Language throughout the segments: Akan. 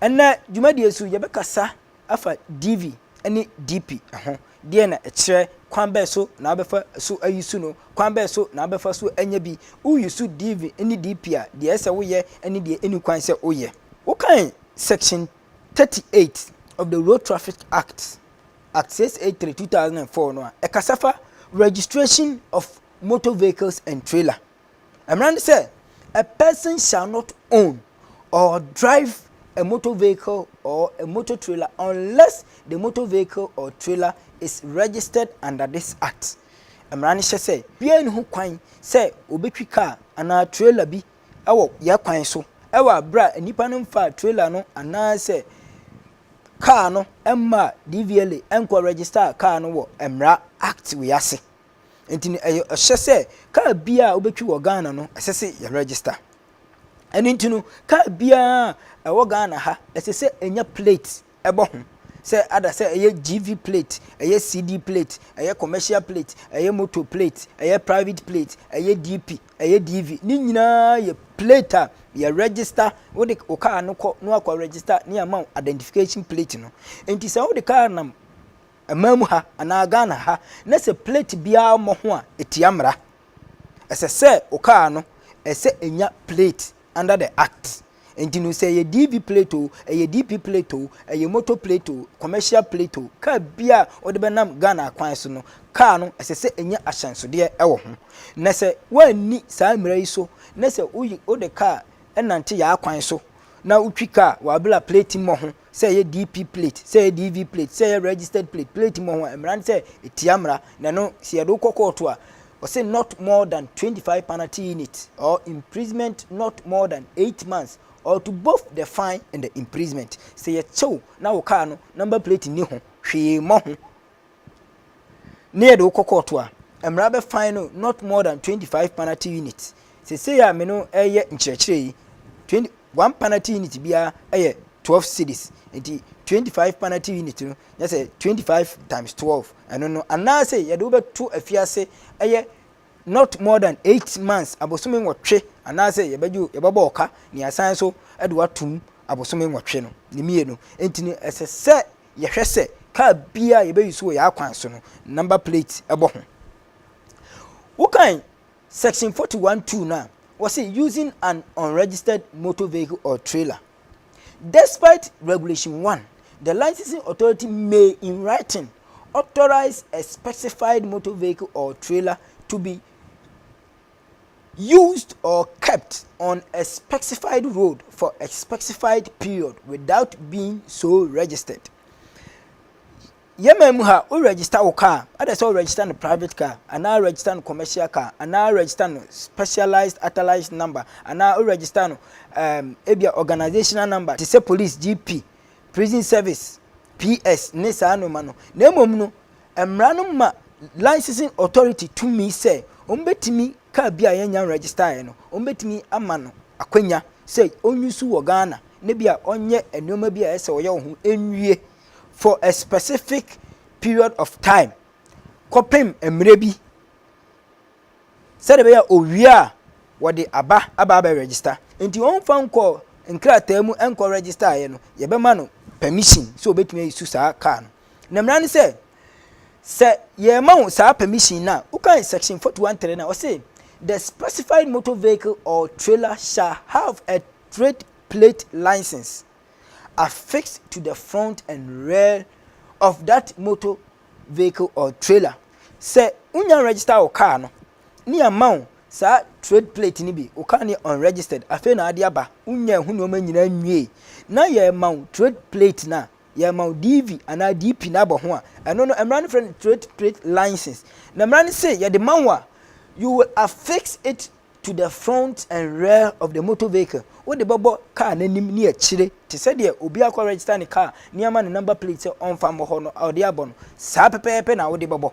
Ɛnnɛ dwumadi yi so, yɛbɛkasa afa DV ne DP ho. Deɛn na ɛkyerɛ? Kwan bɛn so na wobɛfa so ayi su no? Kwan bɛn so na wobɛfa so anya bi? Woyi su DV ne DP a, deɛ ɛsɛ sɛ woyɛ ne deɛ ɛnni kwan sɛ woyɛ. Wokan Section 38 of the Road Traffic Act, Act 683, 2004 no a, ɛkasa fa Registration of Motor Vehicles and Trailer. Mmara ne sɛ, a person shall not own or drive a motor vehicle or a motor trailer unless the motor vehicle or trailer is registered under this act. Mmara no hyɛ sɛ biara nni ho kwan sɛ obetwi kaa anaa trailer bi wɔ yɛn kwan so wɔ bere a nnipa no mfaa trailer no anaasɛ kaa no mmaa DVLA nkɔ register kaa no wɔ mmara act wei ase. Nti no, ɛyɛ ɔhyɛ sɛ kaa biara a wobɛtwi wɔ Ghana no, ɛsɛ sɛ yɛ register. Ɛno nti no, kaa biara a ɛwɔ Ghana ha, ɛsɛ sɛ ɛnya plate ɛbɔ ho. Sɛ ada sɛ ɛyɛ GV plate, ɛyɛ CD plate, ɛyɛ commercial plate, ɛyɛ motor plate, ɛyɛ private plate, ɛyɛ DP, ɛyɛ DV. Ne nyinaa yɛ plate a yɛ register, wode wo kaa no kɔ na wakɔ register ne ama identification plate no. Nti sɛ wode kaa nam Ɛman mu ha anaa Ghana ha na sɛ plate biara mmɔ ho a ɛtia mmara. Ɛsɛ sɛ wo car no ɛsɛ ɛnya plate under the act. Nti no sɛ ɛyɛ DV plate o, ɛyɛ DP plate o, ɛyɛ motor plate o, commercial plate o, car biara a wode bɛnam Ghana akwan so no, car no ɛsɛ sɛ ɛnya ahyɛnsodeɛ ɛwɔ ho. Na sɛ woanni saa mmara yi so na sɛ wode car ɛnante yaa kwan so na wotwi car wɔ abere a plate mmɔ ho sɛ ɛyɛ DP plate, sɛ ɛyɛ DV plate, sɛ ɛyɛ registered plate, plate mu ho a, mmara no sɛ ɛtia mmara, na ɛno sɛ yɛde wokɔ kɔɔto a, ɔse not more than 25 penalty units or imprisonment not more than 8 months or to both the fine and the imprisonment. Sɛ yɛkyɛw na wo kaa no number plate nni ho hwee mmɔ ho ne yɛde wo kɔ kɔɔto a, mmara bɛfan no not more than twenty five penalty units sesei a me no ɛyɛ nkyerɛkyerɛ yi twenty one penalty unit biara ɛyɛ twelve cities nti twenty five penalty unit no nyɛ sɛ twenty five times twelve ɛno no anaasɛ yɛde wo bɛto afiase ɛyɛ not more than eight months abosome nwɔtwe anaasɛ yɛbɛgye yɛbɛbɔ ɔka ne asan so ɛde watum abosome nwɔtwe no ne mmienu nti no ɛsɛ sɛ yɛhwɛ sɛ kaa biara a yɛbɛyi so wɔ yɛn akwan so no, number plate bɔ ho. Wokan section forty one two no a, wɔse using an unregistered motor vehicle or trailer. Despite regulation one, the licensing authority may in writing authorize a specified motor vehicle or trailer to be used or kept on a specified road for a specified period without being so registered yɛn man mu ha wo register wo car ɛdɛ sɛ wo register no private car anaa register no commercial car anaa register no specialized authorized number anaa wo register no um, ebia organizational number te sɛ police gp prison service ps ne saa nneɛma no na mmom no Mmara no ma Licensing Authority tumi sɛ wɔbɛtumi car bi a yɛnnya nregistaeɛ no, wɔbɛtumi ama no akwanya sɛ ɔnuse wɔ Ghana na bi a ɔnyɛ nneɛma bi a ɛsɛ ɔyɛ wɔ ho nwie for a specific period of time kɔpem mmerɛ bi. sɛdeɛ ɛbɛyɛ a ɔwie a wɔde aba aba abɛ register nti wɔmfa nkɔ nkrataa mu nkɔ register ayɛ no yɛbɛma no permission sɛ ɔbɛtumi ayi su saa kaa no na mmara ne sɛ sɛ yɛma wo saa permission no a wokan section 413 no a ɔse the specified motor vehicle or trailer shall have a trade plate license affixed to the front and rear of that motor vehicle or trailer sɛ wonya register wo car no ne ama wo saa trade plate no bi wo car no yɛ unregistered afei na ade aba wonya ɛho nneɛma nyinaa nwie na yɛma wo trade plate no a yɛma wo dv anaa dp no abɔ ho a ɛno no mmara no frɛ no trade plate license na mmara no se yɛde ma wo a you will affix it to the front and rear of the motor vehicle wode bɛbɔ kaa n'anim ne akyire te sɛ deɛ obi akɔ register ne kaa ne ama ne number plate sɛ ɔmfa mmɔ hɔ no a ɔde abɔ no saa pɛpɛɛpɛ na wode bɛbɔ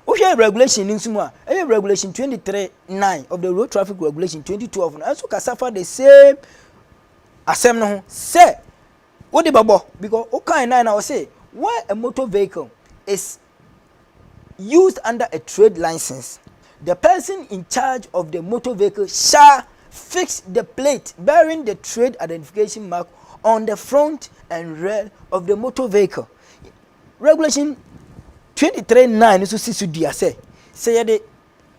wohwɛ regulation no nso mu a ɛyɛ regulation 23 9 of the road traffic regulation 2012 no ɛnso kasa fa the same asɛm no ho sɛ wode bɛbɔ because wokae nan na ɔse where a motor vehicle is used under a trade licence, the person in charge of the motor vehicle shall fix the plate bearing the trade identification mark on the front and rear of the motor vehicle. Regulation 23.9 nso si so dua sɛ sɛ yɛde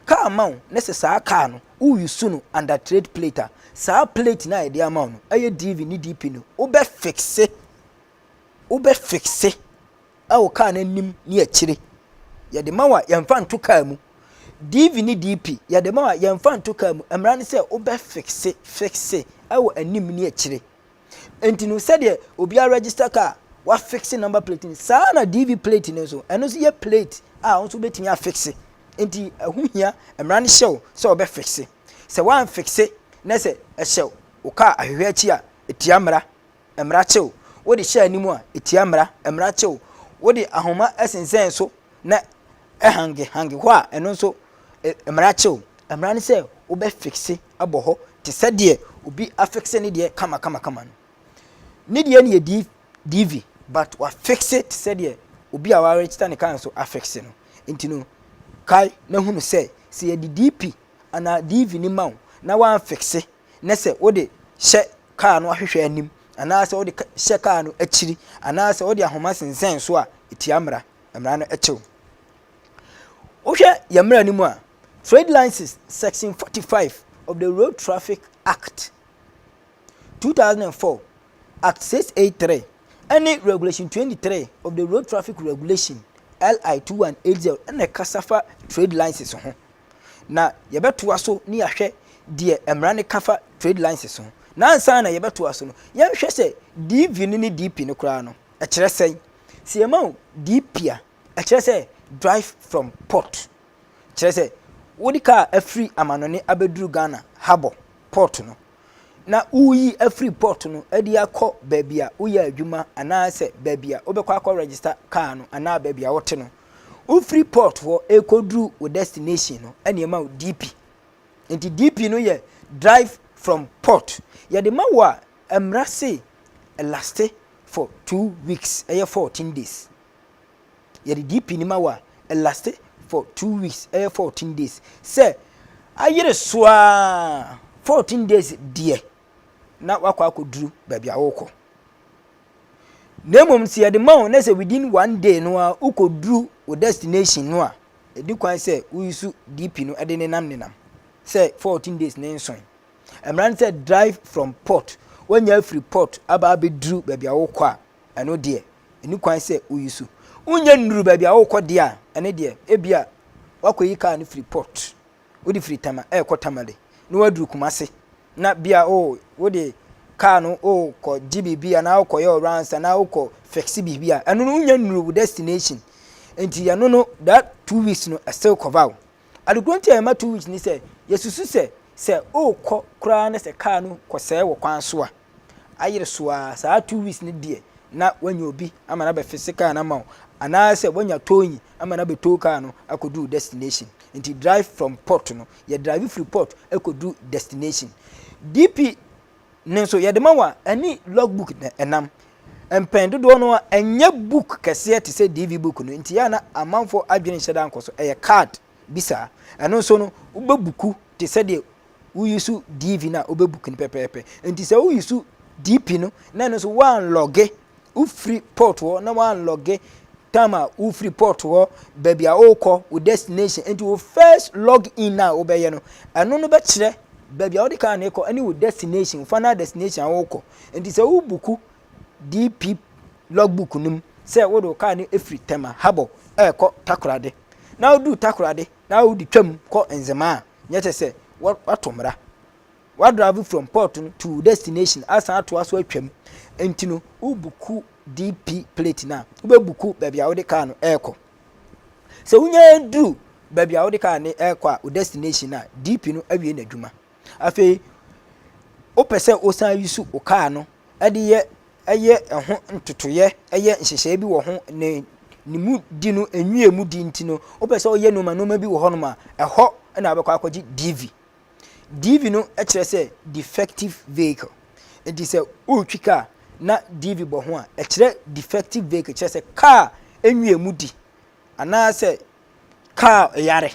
kaa ma wo na sɛ saa kaa no woyusu no under trade plate a saa plate no a yɛde ama wo no ɛyɛ dv ne dp no wobɛfikse wobɛ fixe wo car no anim ne akyire. Yɛde ma wo a, yɛmfa nto car mu. DV ne DP, yɛde ma wo a, yɛmfa nto car mu. Mmara ne sɛ wobɛ fixe, fixe wɔ anim ne akyire. Nti no, sɛdeɛ obiara register car, wafixe number plate no, saa na DV plate no nso, ɛno nso yɛ plate a wo nso wobɛtumi afixe. Nti ɛho hia, mmara no hyɛ wo sɛ wobɛ fixe. Sɛ woamfixe na sɛ ɛhyɛ wo car ahwehwɛ akyi a, ɛtia mmara. Mmara kyew, wode hyɛ anim a, etia mmara. Mmara kyew, wode ahoma sensɛn so na ɛhangehange hɔ a, ɛno nso, mmara kyew. Mmara ne sɛ wobɛfikse abɔ hɔ te sɛ deɛ obi afikse ne deɛ kamakamakama no. Ne deɛ no yɛ DV, but wafikse te sɛ deɛ obi a wɔaregister ne kaa nso afikse no. Nti no, kae na hunu sɛ, sɛ yɛde DP anaa DV no ma wo na woamfikse na sɛ wode hyɛ kaa no ahwehwɛ anim anaasɛ wode hyɛ kaa no akyiri anaasɛ wode ahoma sensɛn so a ɛtia mmara mmara no kyew wohwɛ yɛn mmara no mu a trade license section 45 of the road traffic act 2004 act 683 ɛne regulation 23 of the road traffic regulation li 2180 ɛna ɛkasa fa trade license ho na yɛbɛtoa so ne ahwɛ deɛ mmara no ka fa trade lines so ho. Na ansa na yɛbɛtoa so no, yɛnhwɛ sɛ DV no ne DP no koraa no, ɛkyerɛ sɛn. Sɛ yɛma wo DP a, ɛkyerɛ sɛ drive from port. Kyerɛ sɛ, wode kaa afiri amanɔne abɛduru Ghana harbour, port no. na woreyi afiri pɔt no de akɔ baabi a woyɛ adwuma anaasɛ baabi a wobɛkɔ akɔ register kaa no anaa baabi a wote no wofiri pɔt hɔ ɛkɔduru wo destination no ɛne ɛma wo dp nti dp no yɛ drive from port yɛde ma wo a mmara se laste for two weeks ɛyɛ fourteen days Yɛde DP no ma wo a, ɛlaste for two weeks, ɛyɛ fourteen days. Sɛ ayere so ara fourteen days deɛ, na wakɔ akɔduru baabi a wokɔ. Na mmom sɛ yɛde ma wo na sɛ within one day no a wokɔduru wo destination no a, ɛdi kwan sɛ woyusu DP no de nenam nenam sɛ fourteen days ne nson. Mmara no sɛ drive from port, woanya afiri port aba abɛduru baabi a wokɔ a, ɛno deɛ ɛni kwan sɛ wo use. Wo nya nnuru baabi a wokɔ deɛ a, ɛno deɛ ebia wakɔ yi car no firi port, wode firi Tama ɛɛkɔ Tamale na waduru Kumase na bia oh wode car no oh kɔ gye biribi anaa wokɔ yɛ rounds anaa wokɔ fix biribi a, ɛno no wo nya nnuru wo destination. Nti ɛno no that two weeks no still cover wo. Adekoro nti a yɛma two weeks ne sɛ yɛsusu sɛ sɛ wokɔ koraa na sɛ car no kɔsɛɛ wɔ kwan so a, ayere so ara, saa two weeks no deɛ na wanya obi ama no abɛfese kaa no ama wo anaasɛ wanya towing ama no abɛtow kaa no akɔduru destination. Nti drive from port no, yɛ drive firi port kɔduru destination. DP no nso yɛde ma wo a, ɛne logbook na ɛnam. Mpɛn dodoɔ no ara, ɛnyɛ book kɛseɛ te sɛ DV book no, nti yɛ a na amanfoɔ adwene nhyɛ da nkɔ so, ɛyɛ card. bi saa. Ɛno nso no, wobɛbuku te sɛ deɛ woyusu DV no a wobɛbuku no pɛpɛɛpɛ. Nti sɛ woyusu DP no na ɛno nso woanlɔge wofiri port hɔ na woanlɔge time a wofiri port hɔ baabi a wokɔ wo destination nti wo first log in a wobɛyɛ no ɛno no bɛkyerɛ baabi a wode kaa no kɔ ne wo destination wo final destination a wokɔ nti sɛ wobuku DP logbook no mu sɛ wode wo kaa no firi Tema Harbor ɛrekɔ Takoradi. na wodu Takoradi na wode twam kɔ Nzema a, nyɛ kyɛ sɛ woato mmra. Woadrive from port no to destination asan atoa so atwam, nti no wobuku DP plate no a, wobɛbuku baabi a wode kaa no rekɔ. Sɛ wonya duru baabi a wode kaa no rekɔ a, wo destination a, DP no awie n'adwuma. Afei wopɛ sɛ wosan yi so wo kaa no de yɛ ɛyɛ ɛho ntotoyɛ ɛyɛ nhyehyɛe bi wɔ ho ne ne mu di no enwie mu di nti no wopɛ sɛ ɔyɛ nneɛma nneɛma bi wɔ hɔ nom a ɛhɔ na abɛkɔ akɔgye dv dv no kyerɛ sɛ defective vehicle nti sɛ wotwi kaa na dv bɔ ho a ɛkyerɛ defective vehicle kyerɛ sɛ kaa enwie mu di anaasɛ kaa yare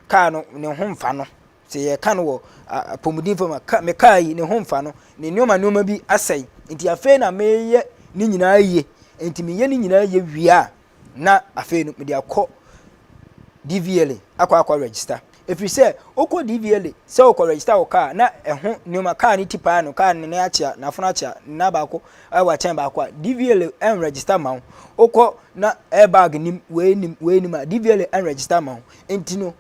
kaa no ne ho mfa no Sɛ yɛka no wɔ apɔmuden fam a, ka, mekaa yi, ne ho mfa no, ne nneɛma nneɛma bi asɛe. Enti afei na mereyɛ ne nyinaa yie. Enti meyɛ ne nyinaa yie wie a, na afei no mede akɔ DVLA akɔ akɔ register. Ɛfiri sɛ, wokɔ DVLA sɛ wokɔ register wo kaa na ɛho nneɛma, kaa no ti paa no, kaa no ne akyea, n'afono akyea, na baako ɛwɔ akyɛn baako a, DVLA ɛnregister ma wo. Wokɔ na airbag nim, wei nim, wei nim a, DVLA ɛnregister ma wo. Enti no,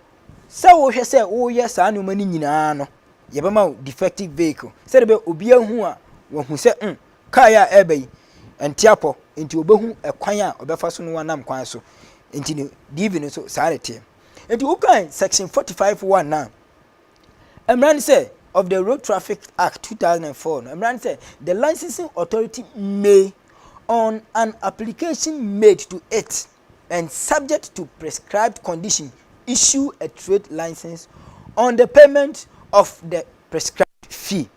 Sɛ wohwɛ sɛ woyɛ saa nnoɔma no nyinaa no, yɛbɛma wo defective vehicle sɛdeɛ bɛ obiara hu a wahu sɛ mm kaa yi a ɛreba yi ɛnte apɔ nti ɔbɛhu ɛkwan a ɔbɛfa so no wanam kwan so nti no DV no nso saa ne teɛ nti wokan section 45 1 na mmara no sɛ of the Road Traffic Act 2004 no mmara no sɛ the licensing authority may on an application made to it and subject to prescribed condition issue a trade license on the payment of the prescribed fee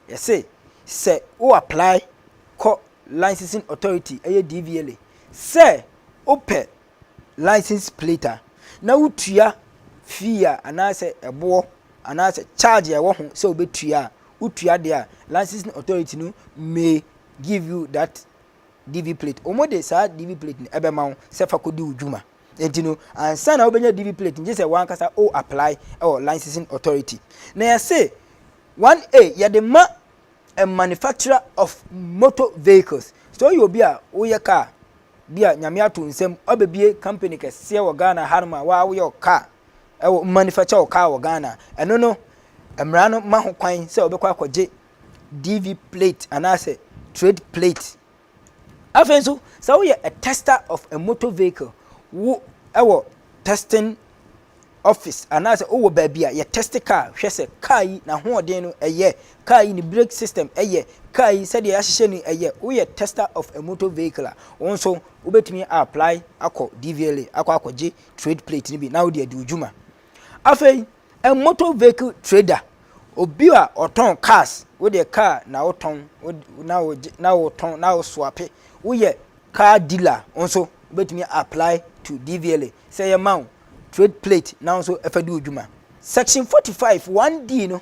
yɛse sɛ wo apply kɔ licensing authority ɛyɛ DVLA sɛ wopɛ license plate a na wotua fee a anaasɛ ɛboɔ anaasɛ charge a ɛwɔ ho sɛ wobɛtua a wotua deɛ a licensing authority no may give you that DV plate. Wɔn de saa DV plate no ɛbɛma wo sɛ fa kɔdi wo dwuma. Nti no, ansa na wobɛnya DV plate no, gye sɛ wankasa o apply ɛwɔ licensing authority. Na yɛse 1A yɛde ma a manufacturer of motor vehicles. Sɛ woyɛ obi a woyɛ car, bi a nyame ato nsam, wabɛbie company kɛseɛ wɔ Ghana hanom a waa woyɛ wo car, ɛwɔ manufacture wo car wɔ Ghana. Ɛno no, mmara no ma ho kwan sɛ wobɛkɔ akɔgye DV plate anaasɛ trade plate. Afei nso, sɛ woyɛ a tester of a motor vehicle, wo ɛwɔ testing office anaasɛ wowɔ baabi a yɛ test car hwɛ sɛ car yi n'ahoɔden no ɛyɛ, car yi ne brake system ɛyɛ, car yi sɛdeɛ yɛahyehyɛ no ɛyɛ, woyɛ tester of a motor vehicle a, wo nso wobɛtumi a apply akɔ DVLA akɔ akɔgye trade plate no bi na wode adi wo dwuma. Afei motor vehicle trader, obi a ɔtɔn cars, wo deɛ car na wotɔn na wogye na wotɔn na woswape, woyɛ car dealer nso wobɛtumi apply to DVLA sɛ yɛma wo trade plate na nso ɛfɛ di wo dwuma. Section 45 1D no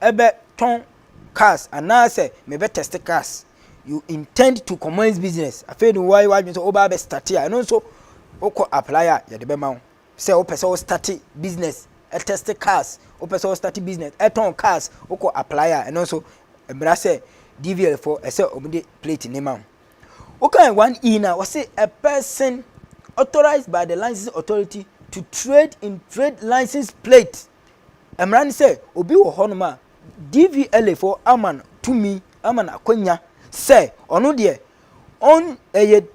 bɛ tɔn cars anaa sɛ me bɛ test cars you intend to commence business afei de wɔayɛ w'adwene sɛ wobaa bɛ start a ɛno nso wokɔ apply a yɛde bɛma wo sɛ wopɛ sɛ wo start business test cars wopɛ sɛ wo start business ɛtɔn cars wokɔ apply a ɛno nso mmara sɛ dvl fo ɛsɛ wɔn de plate ne ma wo wokan one e na wɔse a person authorized by the license authority to trade in trade license plate Mmara ne sɛ obi wɔ hɔnom a DVLA fo ama no tumi ama no akwanya sɛ ɔno deɛ ɔn ɛyɛ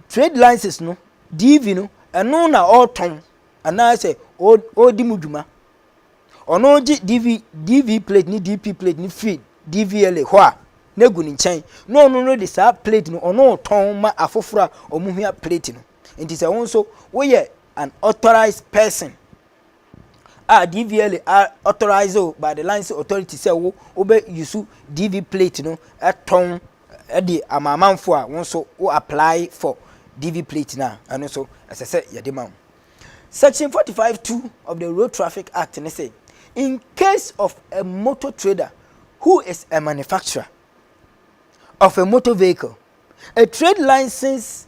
trade license no DV no ɛno na ɔretɔn anaasɛ ɔredi mu dwuma ɔno gye DV DV plate ne DP plate ne free DVLA hɔ a na egu ne nkyɛn na ɔno no de saa plate no ɔno tɔn ma afoforo a wɔn hia plate no nti sɛ wɔn nso woyɛ an authorized person a DVLA a authorise wo by the licensing authority sɛ wo wobɛ use DV plate no tɔn de ama amanfo a wo nso wo apply for DV plate no a ɛno nso ɛsɛ sɛ yɛde ma wo. Section 45.2 of the Road Traffic Act ne sɛ in case of a motor trader who is a manufacturer of a motor vehicle, a trade license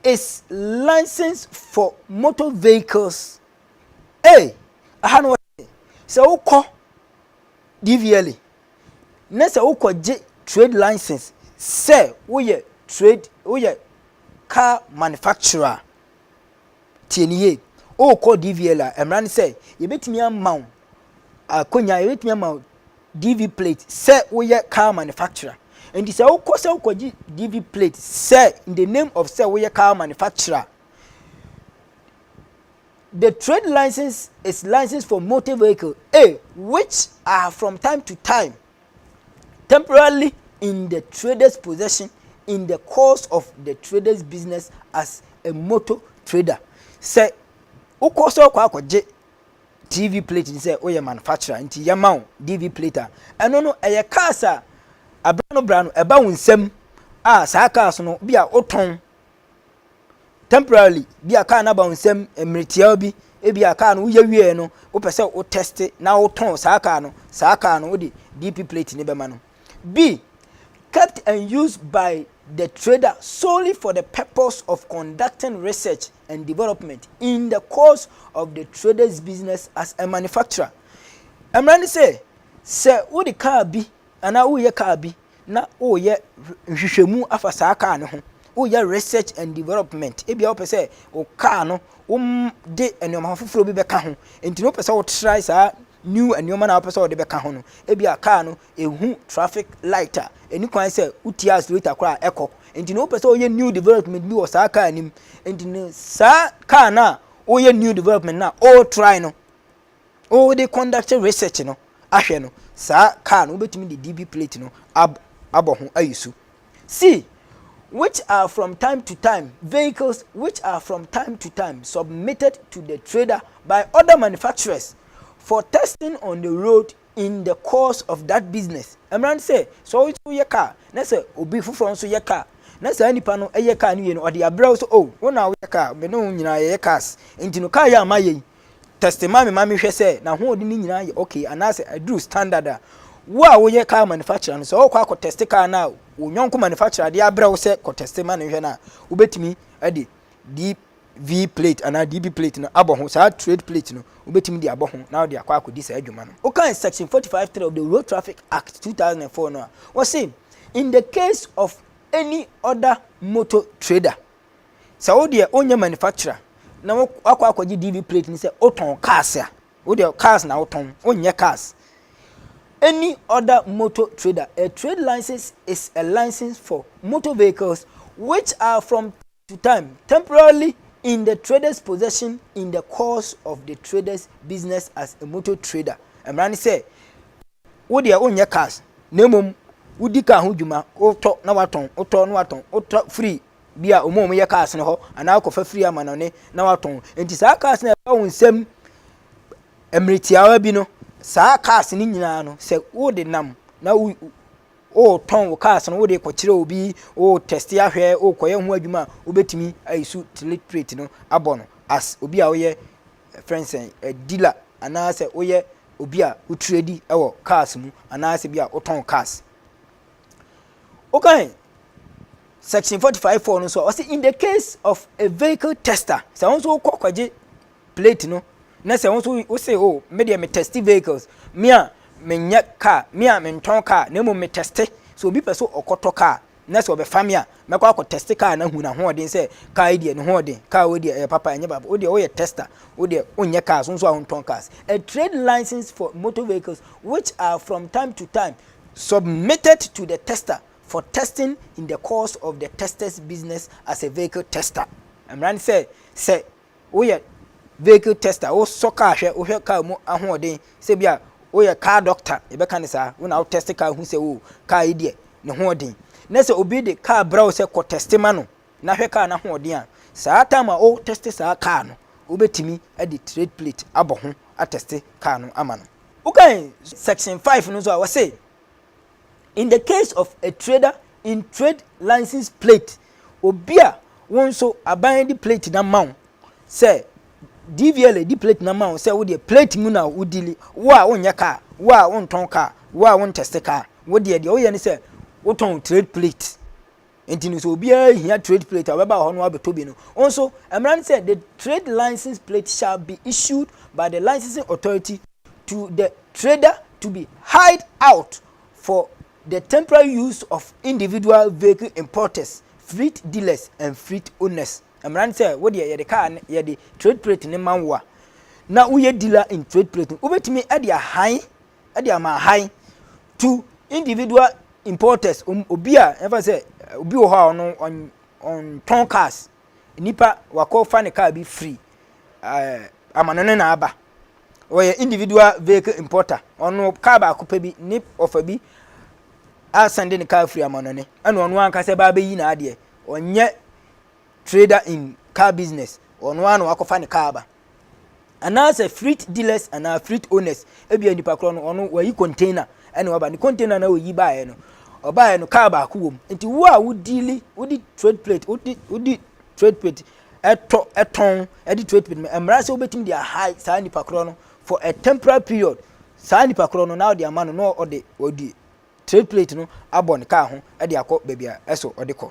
Is license for motor vehicles ei aha no wɔse sɛ wokɔ DVLA ne sɛ wokɔgye trade license sɛ woyɛ trade woyɛ car manufacturer a tie ne yie wokɔ DVLA a mmara ne sɛ yɛbɛtumi ama wo akonnwa, yɛbɛtumi ama wo DV plate sɛ woyɛ car manufacturer. Nti sɛ wokɔ sɛ wokɔgye DV plate sɛ in the name of sɛ woyɛ car manufacturer. The trade license is license for motor vehicle A which are from time to time temporarily in the trader's possession in the course of the trader's business as a motor trader. Sɛ wokɔ sɛ wokɔ akɔgye TV plate ne sɛ woyɛ manufacturer nti yɛma wo DV plate a, ɛno no ɛyɛ cars a abira no bra no ɛba wo nsam a saa cars no bi a wotɔn temporarily bi a car no aba wo nsam mmeretiawa bi ebi a car no woyɛ wie no wopɛ sɛ wo test na wotɔn saa car no saa car no wode DP plate ne bɛma no bi kept and used by the trader solely for the purpose of conducting research and development in the course of the trader's business as a manufacturer. Mmara ne sɛ, sɛ wode kaa bi anaa woreyɛ kaa bi na woyɛ nhwehwɛmu afa saa kaa no ho, woyɛ research and development, ebia wopɛ sɛ wo kaa no wode nneɛma foforɔ bi bɛka ho, nti na wopɛ sɛ wotrae saa new nneɛma no a wopɛ sɛ wode bɛka ho no, ebia kaa no ehu traffic light a, enni kwan sɛ wotua accelerator koraa a ɛkɔ. Enti na wopɛ sɛ woyɛ new development bi wɔ saa kaa no mu. Enti no saa kaa no a woyɛ new development no a woretrae no, wode conduct research no ahwɛ no, saa kaa no wobɛtumi de DB plate no ab abɔ ho ayi so. See, which are from time to time vehicles which are from time to time submitted to the trader by other manufacturers for testing on the road in the course of that business mmara no sɛ sɛ wo nso yɛ kaa na sɛ obi foforɔ nso yɛ kaa na saa nipa no yɛ kaa no wie no ɔde abrɛ wo sɛ o oh, wo na woyɛ kaa me ne wo nyinaa yɛyɛ cars nti no kaa yɛ ama yɛ yi tɛste ma me ma mehwɛ sɛ n'ahoɔden no nyinaa yɛ okay anaasɛ aduru standard a wo a woyɛ kaa manufacturer no sɛ ɔkɔ akɔ tɛste kaa no a wo nyɔnko manufacturer de abrɛ wo sɛ kɔ tɛste ma no hwɛ no a wobɛtumi de deep V plate anaa DB plate no abɔ ho, saa trade plate no wobɛtumi de abɔ ho na wode akɔ akɔdi saa adwuma no. Wokan section forty five three of the Road Traffic Act two thousand and four no a, wɔse In the case of any other motor trader, sɛ wo deɛ wonyɛ manufacturer na woakɔ akɔgye DB plate no sɛ wotɔn cars a, wo deɛ cars na wotɔn, wonyɛ cars. Any other motor trader, a trade license is a license for motor vehicles which are from. to time temporarily in the trader's possession in the course of the trader's business as a motor trader. Mmara ne sɛ, wo deɛ wonyɛ cars, na mmom wodi car ho dwuma, wotɔ na watɔn, wotɔ na watɔn, wotɔ firi bi a wɔn a wɔyɛ cars no hɔ, anaa wokɔfa firi amanɔne na watɔn. Nti saa cars no a ɛba wo nsam mmerɛ tiawa bi no, saa cars no nyinaa no, sɛ wode nam na wo Woretɔn wo cars no, wode rekɔkyerɛ obi, woretɛste ahwɛ, worekɔyɛ ho adwuma a, wobɛtumi ayi so tilate plate no abɔ no as obi a woyɛ friend sɛn, a dealer anaasɛ woyɛ obi a wo trade wɔ cars mu anaasɛ bi a wotɔn cars. Wokan section forty five four no nso a, ɔse in the case of a vehicle tester, sɛ wo nso wokɔ kɔgye plate no na sɛ wo nso wo se o oh, me deɛ me testi vehicles me a menyɛ car me a mentɔn car na mmom me testi so obi pɛ so ɔkɔtɔ car na sɛ ɔbɛfa me a mɛkɔ akɔ testi car na hu n'ahoɔden sɛ car yi deɛ ne hoɔden car wei deɛ ɛyɛ papa ɛnyɛ papa wo deɛ woyɛ tester wo deɛ wonyɛ cars wo nso a wontɔn cars a trade license for motor vehicles which are from time to time submitted to the tester for testing in the course of the tester's business as a vehicle tester mmara ne sɛ sɛ Woyɛ vehicle tester, wosɔ kaa hwɛ, wohwɛ kaa mu ahoɔden, sɛ bi a woyɛ car doctor, yɛbɛka no saa, wo na wo test kaa hu sɛ o kaa yi deɛ ne ho ɔden. Na sɛ obi de kaa brɛ wo sɛ kɔ test ma no na hwɛ kaa no ahoɔden a, saa time a wo test saa kaa no, wobɛtumi de trade plate abɔ ho atɛste kaa no ama no. Wokan section five no nso a, wɔse. In the case of a trader in trade license plate, obi a wo nso aban de plate na ma wo sɛ DVLA di plate na ma wo sɛ wo deɛ plate mu na wo dili wo a wonyɛ kaa wo a wontɔn kaa wo a wontɛste kaa wo deɛ deɛ woyɛ ne sɛ wotɔn trade plate. Nti no sɛ obiara hia trade plate a ɔbɛba hɔ no abɛtɔ bi no. Nso mmara no sɛ the trade license plate shall be issued by the licensing authority to the trader to be hired out for the temporary use of individual vehicle importers, fleet dealers and fleet owners. Mmara no sɛ wo deɛ yɛde kaa no yɛde trade plate no ma wo a na woyɛ dealer in trade plate no wobɛtumi de ahan de ama ahan to individual importers, obi a ɛfa sɛ obi wɔ hɔ a ɔno ɔntɔn cars, nipa wakɔfa ne car bi firi ɛɛ amano ne na aba. Ɔyɛ individual vehicle importer, ɔno car baako pɛ bi ne ɔfa bi asɛnde ne car firi amano ne, ɛna ɔno ankasa ba abɛyi n'adeɛ. Ɔnyɛ trader in car business, ɔno ara na wakɔfa ne car aba. anaasɛ frit dealers anaa frit owners ebia nipa korɔ no ɔno wayi container ɛna waba ne container na oyi baeɛ no ɔbaeɛ no kaa baako wɔ mu nti wo a wodili wodi trade plate wodi wodi trade plate ɛtɔ ɛtɔn ɛde trade plate mmara sɛ wobɛtumi de aha saa nipa korɔ no for a temporary period saa nipa korɔ no na ɔde ama no na ɔde ɔde trade plate no abɔ ne kaa ho ɛde akɔ baabi a ɛso ɔde kɔ.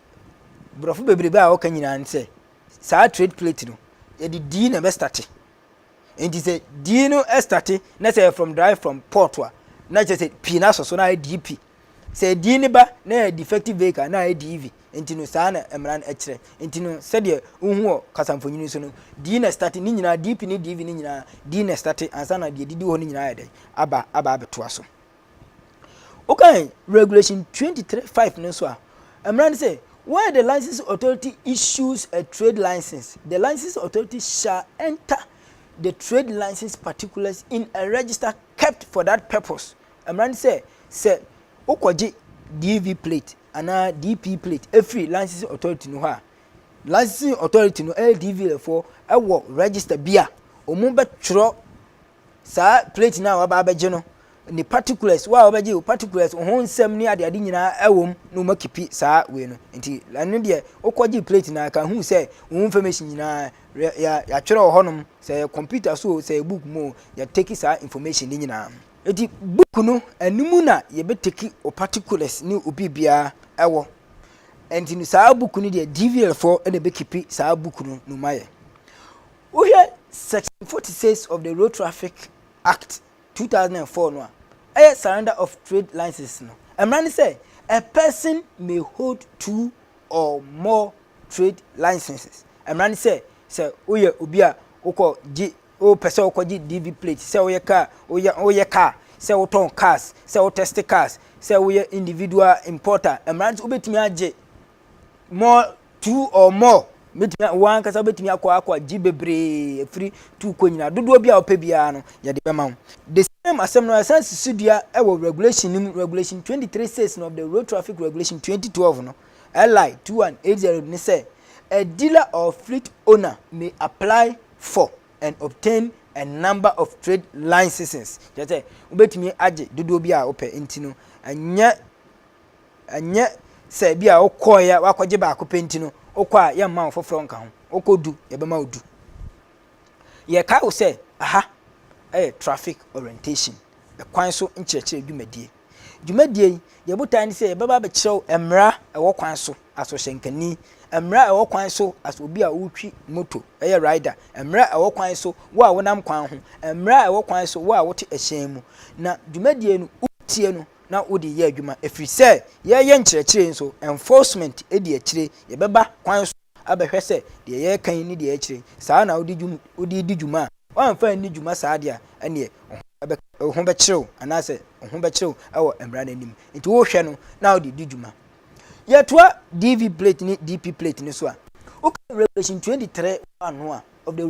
Brɔfo beberebe a wɔka nyinaa ne sɛ saa trade plate no yɛde D na ɛbɛ starte. Nti sɛ D no starte na sɛ from drive from port a na kyerɛ sɛ P no asɔ so na ayɛ DP. Sɛ D no ba na yɛ defective vehicle na ayɛ DV. Nti no saa na mmara no kyerɛ. Nti no sɛdeɛ wohu wɔ kasamfonyini so no D na starte ne nyinaa DP ne DV ne nyinaa D na starte ansa na deɛ didi hɔ no nyinaa yɛ dɛn aba aba abɛtoa so. Wokan Regulation 23.5 no nso a, mmara no sɛ, Where the licensing authority issues a trade license, the licensing authority shall enter the trade license particulars in a register kept for that purpose. Mmara no sɛ, sɛ wokɔgye DV plate anaa DP plate efiri licensing authority no hɔ a, licensing authority no ɛyɛ DV foɔ ɛwɔ register bi a wɔn bɛtwerɛ Saa plate no a waba abɛgye no, ne particulars, wo a wabɛgye wo particulars, ho nsɛm ne adeade nyinaa ɛwɔ mu na wɔn akipi saa wei no. Nti ɛno deɛ wokɔgye plate no a ka hu sɛ wo information nyinaa yɛatwerɛ wɔ hɔnom sɛ yɛ computer so sɛ yɛ book mu yɛ take saa information ne nyinaa. Nti book no ɛno mu na yɛbɛ take wo particulars ne wo biribiara ɛwɔ. Nti no saa book no deɛ DVL foɔ na ɛbɛkipi saa book no na wɔn ayɛ. Wohwɛ Section forty six of the Road Traffic Act, two thousand and four no a, ɛyɛ Surrender of Trade License no, mmara ne sɛ, A person may hold two or more trade licenses. Mmara ne sɛ, sɛ woyɛ obi a wokɔ gye, wopɛ sɛ wokɔ gye DV plate, sɛ woyɛ kaa, woyɛ, woyɛ kaa, sɛ wotɔn cars, sɛ wo test cars, sɛ woyɛ individual importer, mmara ne sɛ wobɛtumi agye more two or more bɛtumi a wɔn ankasa bɛtumi akɔ akɔ agye bebree afiri tu kɔ nyinaa dodoɔ bi a wɔpɛ biara no yɛde bɛma wo the same asɛm no ɛsan si so dua wɔ regulation no mu regulation twenty three six no of the road traffic regulation twenty twelve no li two one eight zero ne sɛ a dealer or fleet owner may apply for and obtain a number of trade licenses kyerɛ sɛ wobɛtumi agye dodoɔ bi a wopɛ nti no ɛnyɛ Ɛnyɛ sɛ ebi a wokɔeɛ woakɔgye baako pɛ nti no wokɔ a yɛmma wo foforɔ nka ho wokɔ du yɛbɛma wo du yɛkae wo sɛ aha ɛyɛ traffic orientation ɛkwan so nkyerɛkyerɛ dwumadie dwumadie yi deɛ botae ne sɛ yɛbɛba abɛkyerɛ wo mmara ɛwɔ kwan so asɔhyɛnkani mmara ɛwɔ kwan so as obi a wotwi moto ɛyɛ rider mmara ɛwɔ kwan so wo a wonam kwan ho mmara ɛwɔ kwan so wo a wote ɛhyɛn mu na dwumadie no wotie no na wode yɛ adwuma ɛfiri sɛ yɛreyɛ nkyerɛkyerɛ yi nso enforcement di akyire yɛbɛba kwan so abɛhwɛ sɛ deɛ yɛreka yi ne deɛ yɛkyerɛ yi saa na wode dwum wode di dwuma a woamfa anni dwuma saa deɛ a ɛneɛ wo ho ɛbɛ wo ho bɛkyere wo anaasɛ wo ho bɛkyere wo ɛwɔ mmara no anim nti wohwɛ no na wode di dwuma yɛtoa DV plate ne DP plate no so a woka Revelation 23 ano a of the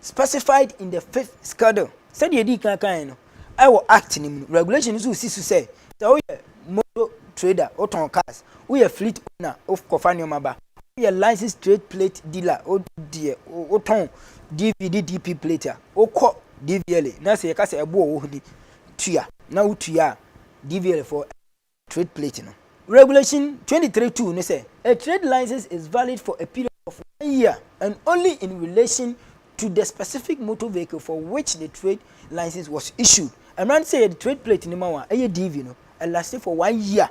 specified in the fifth schedule. Sɛdeɛ yɛdii kan kaeɛ no, ɛwɔ Act no mu no, regulation nso si so sɛ, sɛ woyɛ motor trader, wotɔn cars, woyɛ fleet owner, wokɔfa nneɛma ba, woyɛ licensed trade plate dealer, wodeɛ wotɔn DV ne DP plate a, wokɔ DVLA na sɛ yɛka sɛ ɛboɔ wɔ hɔ ni tua na wotua a, DVLA foɔ Trade Plate no. Regulation twenty three two ne sɛ, A trade license is valid for a period of one year and only in relation to the specific motor vehicle for which the trade license was issued. Mmara no sɛ yɛde Trade Plate no ma wo a, ɛyɛ DV no, ɛlaste for one year,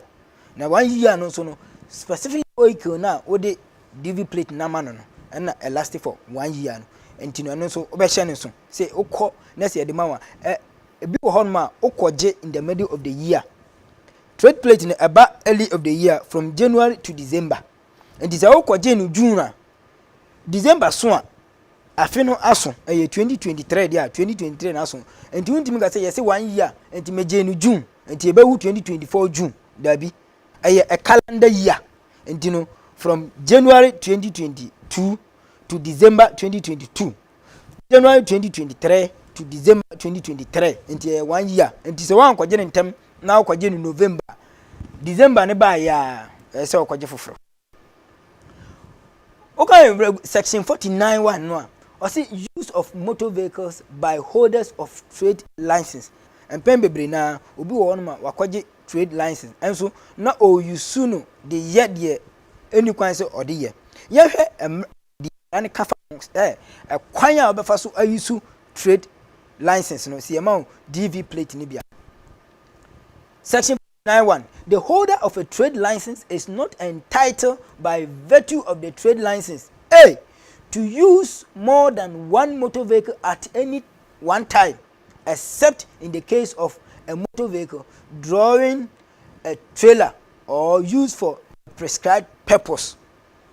na one year no nso no, specific vehicle no a wode DV Plate no ama no no, ɛna ɛlaste for one year no. Nti no, ɛno nso wobɛhyɛ no nso. Sɛ wokɔ na sɛ yɛde ma wo a, ɛ, ebi wɔ hɔnom a wokɔgye in the middle of the year, Trade plate no ɛba early of the year from January to December. Nti sɛ wokɔgye no June a, December so a, afe no aso. Ɛyɛ 2023 deɛ a, 2023 no aso. Nti wontumi ka sɛ yɛse one year, nti megyee no June, nti ɛbɛwu 2024 June. Daabi. Ɛyɛ a calendar year. Nti no, from January 2022 to December 2022 January twenty twenty three to December twenty twenty three nti ɛyɛ one year nti sɛ wankɔgye ne ntɛm na ɔkɔgye no November December ne baa yɛ a ɛyɛ sɛ ɔkɔgye foforɔ. Okay, section forty nine one no a ɔsi use of motor vehicles by holders of trade license mpɛn bebree na obi wɔ hɔnom a wakɔgye trade license nso na ɔresu no de yɛ deɛ ɛni kwan sɛ ɔde yɛ yɛhwɛ deɛ mmara no ka fa ho sɛ ɛkwan a wobɛfa so ayi so trade license no sɛ yɛma wo dv plate no bi a section 91 the holder of a trade license is not entitled by virtue of the trade license a to use more than one motor vehicle at any one time except in the case of a motor vehicle drawing a trailer or used for a prescribed purpose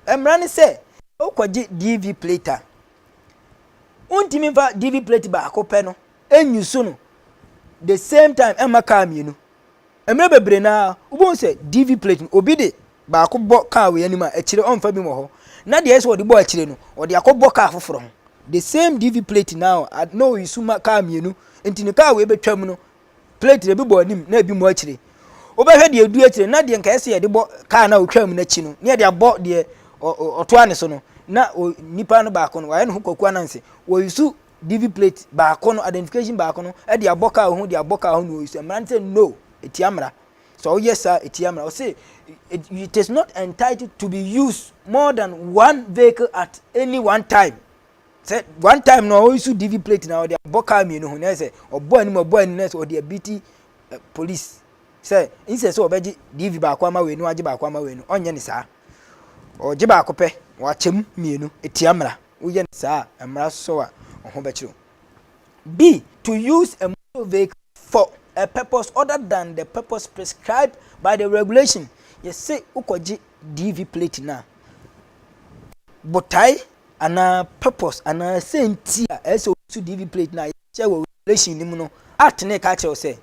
Mmara ne sɛ, sɛ wokɔgye DV plate a, wontumi mfa DV plate baako pɛ no nnyusu no the same time mma kaa mmienu. Mmerɛ bebree no ara, wobɛhu sɛ DV plate no, obi de baako bɔ kaa wei anim a, akyire ɔmfa bi wɔ hɔ. Na deɛ ɛyɛ sɛ ɔde bɔ akyire no, ɔde akɔbɔ kaa foforɔ ho. The same DV plate no ara na ɔyusu ma kaa mmienu. Nti no, kaa wei bɛtwam no, Plate no, ebi bɔ anim na ebi mu akyire. Wobɛhwɛ deɛ ɛdu akyire na deɛ nka ɛsɛ yɛde bɔ kaa no a ɔtwaa mu no akyi no, ne yɛde abɔ deɛ ɔtoa ne so no, na nipa no baako no, wayɛ ne ho kwaku ananse. Wɔyusu DV plate baako no, identification baako no, de abɔ kaa ho, de abɔ kaa ho na wɔyusu. Mmara no sɛ no, ɛtia mmara. So woyɛ saa, ɛtia mmara. Ɔse, it, it is not entitled to be used more than one vehicle at any one time. Sɛ one time no ɔresu DV plate na ɔde abɔ car mmienu ho na yɛ sɛ ɔbɔ anim ɔbɔ anim na yɛ sɛ ɔde abiti eh, police sɛ nsɛ sɛ ɔbɛgye DV baako ama wei no agye baako ama wei no ɔnyɛ ne saa ɔgye baako pɛ wakyɛm mmienu etia mmara woyɛ ne saa a mmara sɔ a ɔho bɛkyerɛw B to use a motor vehicle for a purpose other than the purpose prescribed by the regulation yɛse wokɔgye DV plate no a botae anaa purpose anaa sɛnti a ɛsɛ sɛ obi so DV plate no a yɛkyerɛ wɔ Revelation no mu no act no reka akyerɛ wo sɛ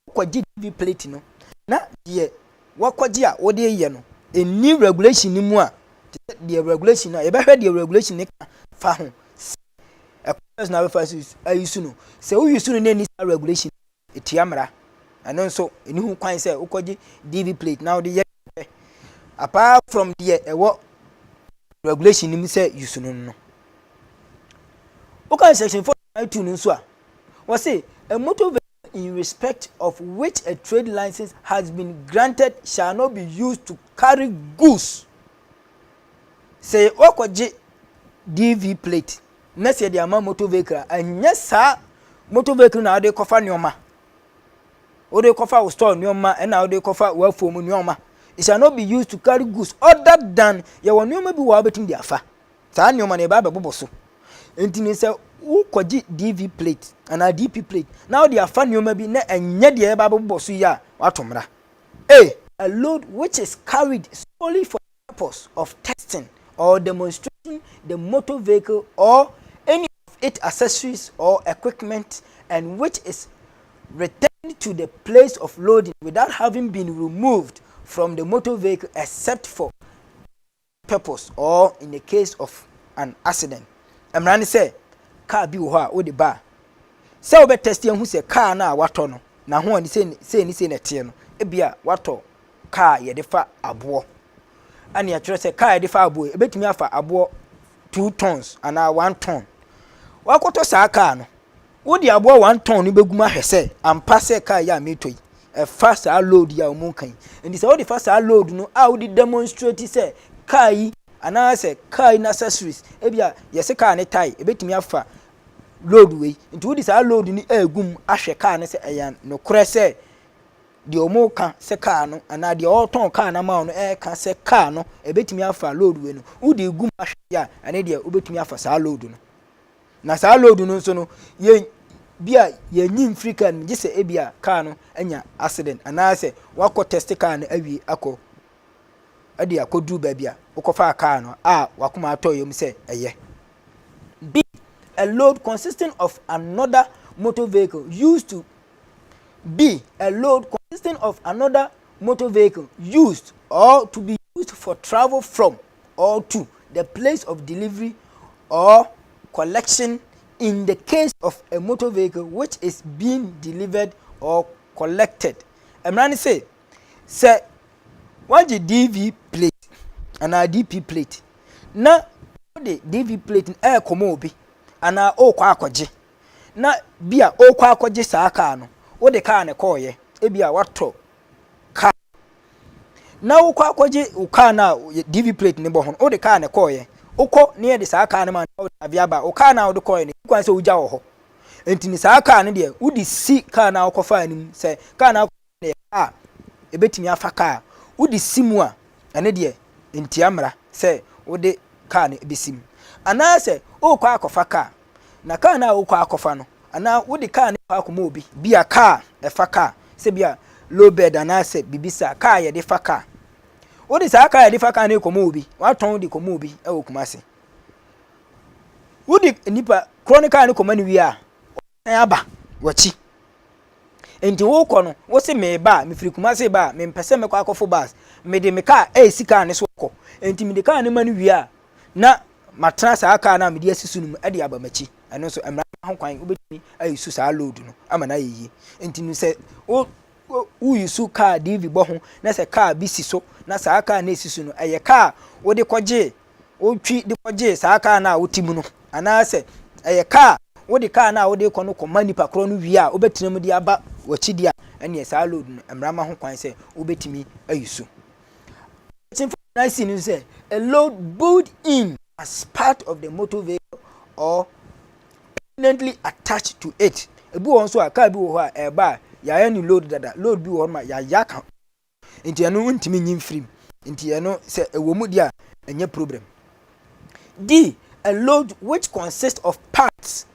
wokɔgye DV plate no na deɛ wakɔgye a wode reyɛ no ɛnni regulation no mu a te sɛ deɛ regulation no a yɛbɛhwɛ deɛ regulation no ka fa ho sɛ ɛkɔsɛ so na abɛfa ayi su no sɛ woyi su no na ɛnni saa regulation Etua mmara. Ɛno nso, ɛnni ho kwan sɛ wokɔgye DV plate na wode yɛ deɛ wopɛ, apart from deɛ ɛwɔ regulation no mu sɛ use no no. Wokan section 4.2 no nso a, wɔse, A motor vehicle in respect of which a trade license has been granted shall not be used to carry goods. Sɛ woakɔgye DV plate na sɛ yɛde ama motor vehicle a ɛnyɛ saa motor vehicle na wode kɔfa nneɛma wode kɔfa wo store nneɛma ɛna wode kɔfa w'afuo mu nneɛma it shall not be used to carry goods other than yɛwɔ nneɛma bi wɔ a wobɛtumi de afa saa nneɛma no yɛbɛ abɛbobɔ so nti no sɛ wokɔgye dv plate anaa dp plate na wode afa nneɛma bi na ɛnyɛ deɛ yɛbɛ abɛbobɔ so yi a wato mmara a load which is carried solely for purpose of testing or demonstrating the motor vehicle or any of its accessories or equipment and which is returned to the place of loading without having been removed from the motor vehicle except for purpose or in the case of an accident. Mmara ne sɛ kaa bi wɔ hɔ a wode ba a sɛ wobɛtɛste ahu sɛ kaa no a watɔ no n'ahoɔden sei ne sei na ɛteɛ no ebia watɔ kaa a yɛde fa aboɔ. Ɛne ɛkyerɛ sɛ kaa a yɛde fa aboɔ yi, ɛbɛtumi afa aboɔ two tons anaa one ton. Wakɔtɔ saa kaa no, wode aboɔ one ton no bɛgu mu ahwɛ sɛ ampa sɛ kaa yi a metɔ yi, ɛfa saa load yi a wɔn ka yi. Nti sɛ wode fa saa load no a wode demonstrate sɛ kaa yi anaasɛ kaa yi n'accessories, ebi a yɛse kaa ne tae, ɛbɛtumi afa load wei. Nti wode saa load no ɛgu mu ahwɛ kaa no sɛ ɛyɛ nokorɛ sɛ Deɛ wɔreka sɛ car no anaa deɛ ɔretɔn car no ama wo no reka sɛ car no ɛbɛtumi afa load wei no wode gu mu ahwɛ yɛ a ɛne deɛ wobɛtumi afa saa load no na saa load no nso no yɛ bi a yɛnyi mfiri car no mu gye sɛ ebi a car no anya accident anaasɛ wakɔ test car no awie akɔ ɛde akɔduru baabi a wokɔfaa car no a wakoma atɔ yam sɛ ɛyɛ B. A load consisting of another motor vehicle used to be a load consisting of another motor vehicle used or to be used for travel from or to the place of delivery or collection in the case of a motor vehicle which is being delivered or collected mmara no se sɛ wɔagye dv plate anaa dp plate na wode dv plate no ɛrekɔma obi anaa ɔrekɔ akɔgye na bi a ɔrekɔ akɔgye saa kaa no wode kaa no kɔɔeɛ ebi a watɔ kaa na wokɔ akɔgye wo kaa no a dv plate no bɔ ho no wode kaa no kɔɔeɛ wokɔ ne yɛde saa kaa no ma no wode adeɛ aba wo kaa no a wode kɔɔeɛ no kwan sɛ wogya wɔ hɔ nti ne saa kaa no deɛ wode si kaa no a wokɔfaa no mu sɛ kaa no a na ɛyɛ kar a ɛbɛtumi afa kar a wode si mu a, ɛno deɛ ɛntia mmara sɛ wode kar no bɛsi mu. Anaasɛ worekɔ akɔfa kar, na kar no a worekɔ akɔfa no, anaa wode kar no kɔ akɔma obi, bi a kar a ɛfa kar, sɛ bi a low bed anaasɛ biribi saa, kar a yɛde fa kar, wode saa kar a yɛde fa kar no rekɔma obi, woatɔn de kɔma obi wɔ Kumasi, wode nipa korɔ no kar no kɔma no wie a, Aba w'akyi. Enti worekɔ no, wose mereba a, mefiri Kumasi reba a, mempɛ sɛ mɛkɔ akɔfo bus. Mede me kaa resi kaa no so akɔ. Enti mede kaa no ma no wie a, na matena saa kaa no a mede asi so no mu de aba m'akyi. Ɛno nso, mmara mma ho kwan. Wobɛtumi ayusu saa load no ama no ayɛ yie. Enti no sɛ wo woyusu kaa DV bɔ ho na sɛ kaa bi si so na saa kaa no a ɛsi so no, ɛyɛ kaa a wode kɔgyee wotwi de kɔgye saa kaa no a wote mu no, anaasɛ ɛyɛ kaa a wode kaa no a wode rekɔ no kɔma nipa korɔ no wie a wobɛtena mu de aba w'akyi deɛ a, ɛnneɛ saa load no, mmara ma ho kwan sɛ wobɛtumi ayi so. Akyinfo nyinaa si no sɛ a load built in as part of the motor vehicle or permanently attached to it. Ebi wɔ hɔ nso a kaa bi wɔ hɔ a ɛreba a yɛayɛ no load dada, load bi wɔ hɔ ma yɛayɛ aka nti ɛno wontumi nyi mfiri mu nti ɛno sɛ ɛwɔ mu deɛ a ɛnyɛ problem. D. A load which consists of parts,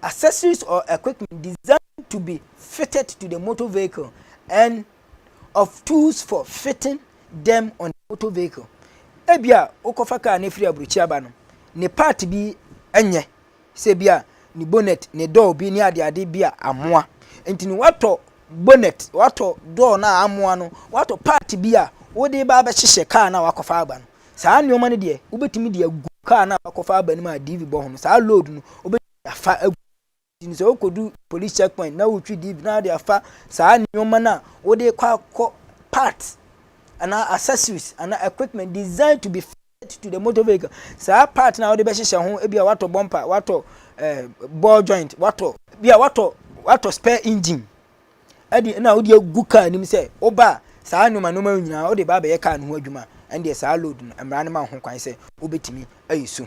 accessories or equipment designed to be fitted to the motor vehicle and of tools for fitting them on the motor vehicle. Ebia wokɔfa kaa no firi aburokyi aba no ne part bi nyɛ sɛ bi a ne bonnet ne door bi ne adeade bi a amoa nti no woatɔ bonnet woatɔ door no a amoa no woatɔ part bi a wode ba abɛhyehyɛ kaa no a wakɔfa aba no saa nneɛma no deɛ wobɛtumi de agu kaa no a wakɔfa aba no mu a diivi bɔ ho no saa load no wobɛtumi de afa agu nti sɛ wokɔdu police checkpoint na wotwi diivi na wode afa saa nneɛma no a wode kɔ akɔ part anaa accessories anaa equipment designed to be to the motor vehicle saa part na wode bɛhyehyɛ ho ebi a watɔ bumper watɔ eh, ball joint watɔ bi a watɔ watɔ spare engine ɛde na wode agu car anim sɛ woba saa nneɛma nneɛma nyinaa wode ba abɛyɛ car no ho adwuma ɛndeɛ saa load no mmara no ma ho kwan sɛ wobɛtumi ayɛ so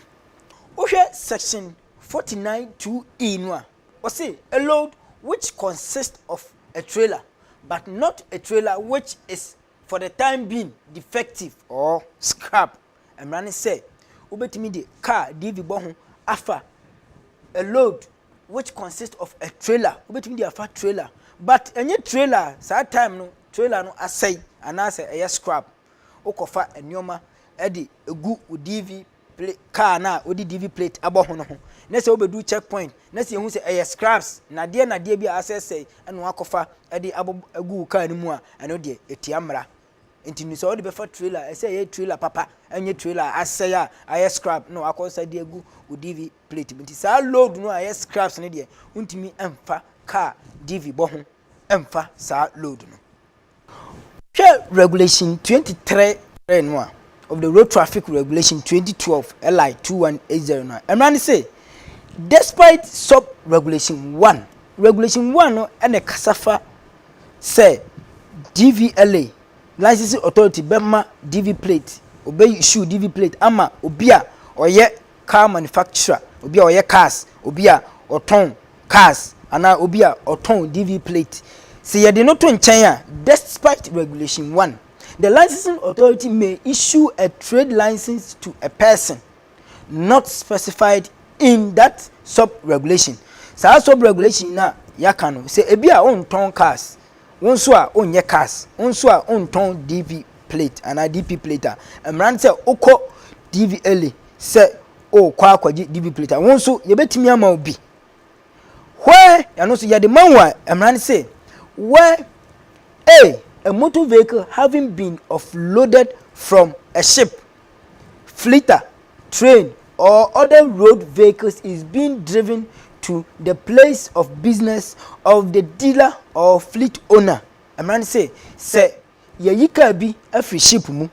wohwɛ section 49 2e no a ɔse a load which consists of a trailer but not a trailer which is For the time being, defective or scrap mmara ne sɛ wobɛtumi de car DV bɔ ho afa a load which consists of a trailer, wobɛtumi de afa trailer but ɛnyɛ trailer a saa time no trailer no asɛe anaasɛ ɛyɛ scrap, wokɔfa nneɛma de gu wo DV pla car no a wɔde DV plate abɔ ho no ho, na sɛ wobedu check point na sɛ yehu sɛ ɛyɛ scraps, nnadeɛ nnadeɛ bi a asɛesɛe na wɔakɔfa de abɔ agu wo car no mu a, ɛno deɛ, ɛtia mmara. Nti no, sɛ wode bɛfa trailer, ɛsɛ sɛ ɛyɛ trailer papa, ɛnyɛ trailer a asɛe a ayɛ scrap na wɔakɔsa de agu wo DV plate mu. Nti saa load no a ɛyɛ scraps no deɛ, wontumi mfa car DV bɔ ho mfa saa load no. Hwɛ Regulation 23 no a, of the Road Traffic Regulation 2012, LI 2180 no a, mmara no se, despite sub-regulation 1, regulation 1 no na ɛkasa fa sɛ DVLA, Licensing Authority, bɛma DV plate, ɔbɛ issue DV plate ama obi a ɔyɛ car manufacturer, obi a ɔyɛ cars, obi a ɔtɔn cars, anaa obi a ɔtɔn DV plate. Sɛ yɛde no to nkyɛn a, despite Regulation one, the licensing authority may issue a trade license to a person not specified in that sub-regulation. Saa sub-regulation no a yɛaka no, sɛ ebi a wontɔn cars, Wo nso a wonyɛ cars, wo nso a wontɔn DV plate anaa DP plate a, mmara ne sɛ wokɔ DV Ele sɛ wokɔ akɔgye DV plate a, wo nso yɛbɛtumi ama wo bi. Where ɛno nso yɛde ma wo a, mmara ne sɛ where A, a motor vehicle having been offloaded from a ship Flitter, train or other road vehicles is being driven to the place of business of the dealer or fleet owner. Mmara no se sɛ yɛyi kaa bi afiri ship mu,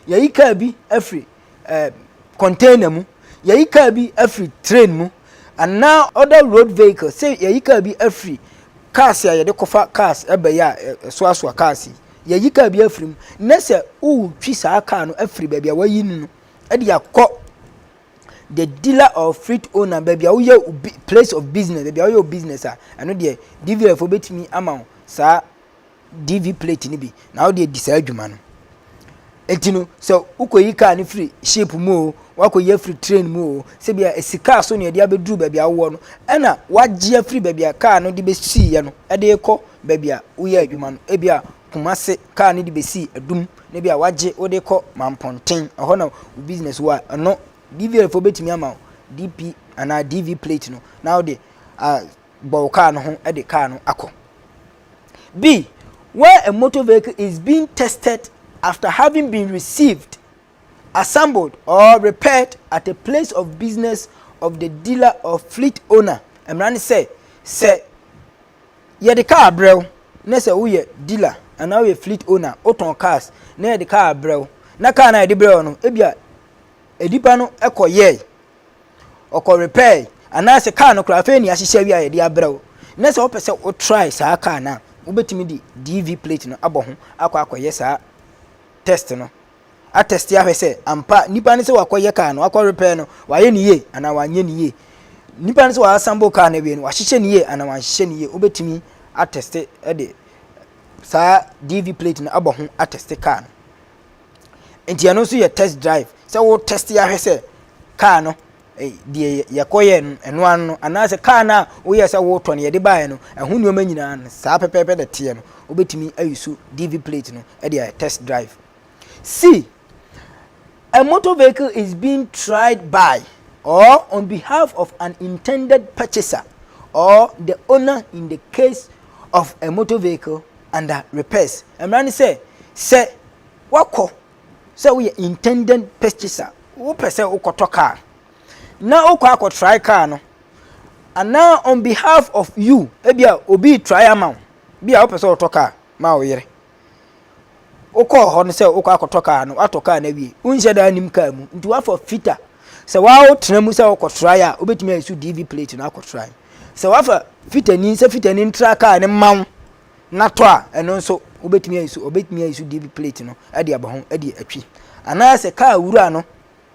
yɛyi kaa bi afiri eh, container mu, yɛyi kaa bi afiri train mu, anaa other road vehicles, sɛ yɛyi kaa bi afiri cars a yɛde kɔfa cars ɛbɛyɛ a ɛsoasoa cars yi. yɛyi kaa bi afiri mu na sɛ wotwi saa kaa no afiri baabi a wɔayi no no de akɔ the dealer or fleet owner baabi a woyɛ place of business baabi a woyɛ business a ɛno deɛ dvr fo bɛtumi ama wo saa dv plate no bi na wode adi saa adwuma no eti no sɛ wokɔyi kaa no firi ship mu o wakɔyi afiri train mu o sɛ bia esi kaa so na ɛde abɛduru baabi a wowɔ no ɛna wagye afiri baabi a kaa no de bɛsiiɛ no ɛde kɔ baabi a woyɛɛ adwuma no, ebia Kumasi kaa no de besii Adum, na ebia wagye wode kɔ Mampɔnten, ɛhɔ na wo business wɔ a, ɛno DVL foɔ bɛtumi ama wo DP anaa DV plate no na wode uh, bɔ wo kaa no ho de kaa no akɔ. B. Where a motor vehicle is being tested after having been received, assembled or repaired at a place of business of the dealer or fleet owner. Mmara ne sɛ, sɛ Yɛde kaa brɛ wo na sɛ woyɛ dealer anaa woyɛ fleet owner wotɔn cars na yɛde kaa brɛ wo na kaa no a yɛde brɛ wo no ebia nipa no kɔ yɛe ɔkɔ repair anaasɛ kaa no koraa afei ne ahyehyɛ awie a yɛde abrɛ wo na sɛ wopɛ sɛ wotry saa kaa no a wobɛtumi de DV plate no abɔ ho akɔ akɔyɛ saa test no atɛste ahwɛ sɛ ampa nipa no sɛ wakɔyɛ kaa no, wakɔ repɛɛ no, wayɛ no yie anaa wanyɛ no yie. Nipa no sɛ wasambo kaa no awie no, wahyehyɛ no yie anaa wanhyehyɛ no yie. Wobɛtumi atɛste de saa DV plate no abɔ ho atɛste kaa no. Nti ɛno nso yɛ test drive sɛ wo tɛste ahwɛ sɛ kaa no eh, deɛ yɛkɔyɛ no ɛno ano no anaasɛ kaa no a woyɛ sɛ wotɔ no yɛde baeɛ no ɛho nneɛma nyinaa no saa pɛpɛɛpɛ na teɛ no wobɛtumi ayi so DV plate no de ayɛ test drive. See, a motor vehicle is being tried by or on behalf of an intended purchaser or the owner in the case of a motor vehicle under repairs. Mmara ne sɛ, sɛ wakɔ sɛ woyɛ intended purchaser, wopɛ sɛ wokɔtɔ car, na wokɔ akɔtrae car no, anaa on behalf of you, ebi a obi trae ama wo, bi a wopɛ sɛ wotɔ car ma wo yere. Wokɔɔ hɔ no sɛ wokɔ akɔtɔ kaa no, woatɔ kaa no awie. Wonhyɛ da nnim kaa mu, nti woafa fita. Sɛ waa wotena mu sɛ wokɔtrae a, wobɛtumi ayi so DV plate no akɔtrae. Sɛ woafa fitani sɛ fitani ntra kaa no mma wo na tɔ a, ɛno nso wobɛtumi ayi so, ɔbɛtumi ayi so DV plate no de aba ho de atwi. Anaasɛ kaa wura no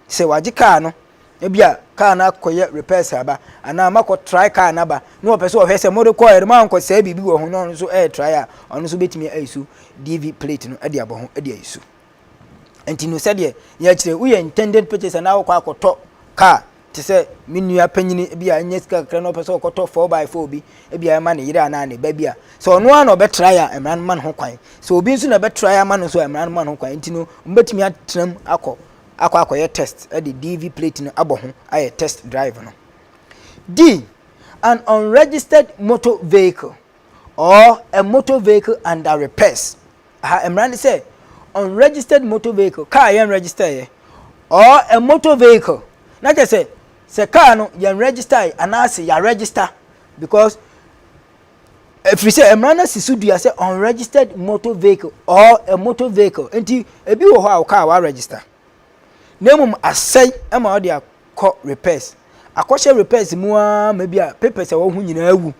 Sɛ wagye kaa no, ebi a kaa no akɔyɛ repairs aba anaa makɔ try kaa no aba na ɔpɛ sɛ ɔhwɛ sɛ mode kɔɛ no mankɔ sɛe biribi wɔ ho na ɔno nso ɛyɛ try a ɔno nso bɛtumi ayisu DV plate no de abɔ ho de ayisu. Nti no sɛdeɛ yɛkyerɛ woyɛ intended purchaser na wokɔ akɔtɔ kaa te sɛ me nua panyini bi a ɛnyɛ sika kakra na ɔpɛ sɛ ɔkɔtɔ 4x4 bi ebi a ɛma ne yere anaa ne ba bi a sɛ ɔno ara na ɔbɛtra yɛ a mmara no ma no ho kwan sɛ obi nso na ɛbɛtra yɛ ama no nso a mmara no ma no ho kwan nti no mbɛtumi atram akɔ akɔ akɔyɛ test de DV plate no abɔ ho ayɛ test drive no. D. An unregistered motor vehicle or a motor vehicle under repairs. Aha mmara ne sɛ unregistered motor vehicle, kaa yɛn register yɛ, or a motor vehicle. Na kyerɛ sɛ sɛ kaa no yɛn register yɛ anaasɛ yɛ register because Ɛfiri sɛ mmara no si so dua sɛ unregistered motor vehicle or a motor vehicle nti ebi wɔ hɔ a ɔkaa wa register na mmom asɛe ɛma ɔde akɔ repairs akɔhyɛ repairs mu ara ma bi a papers a wɔho nyinaa awu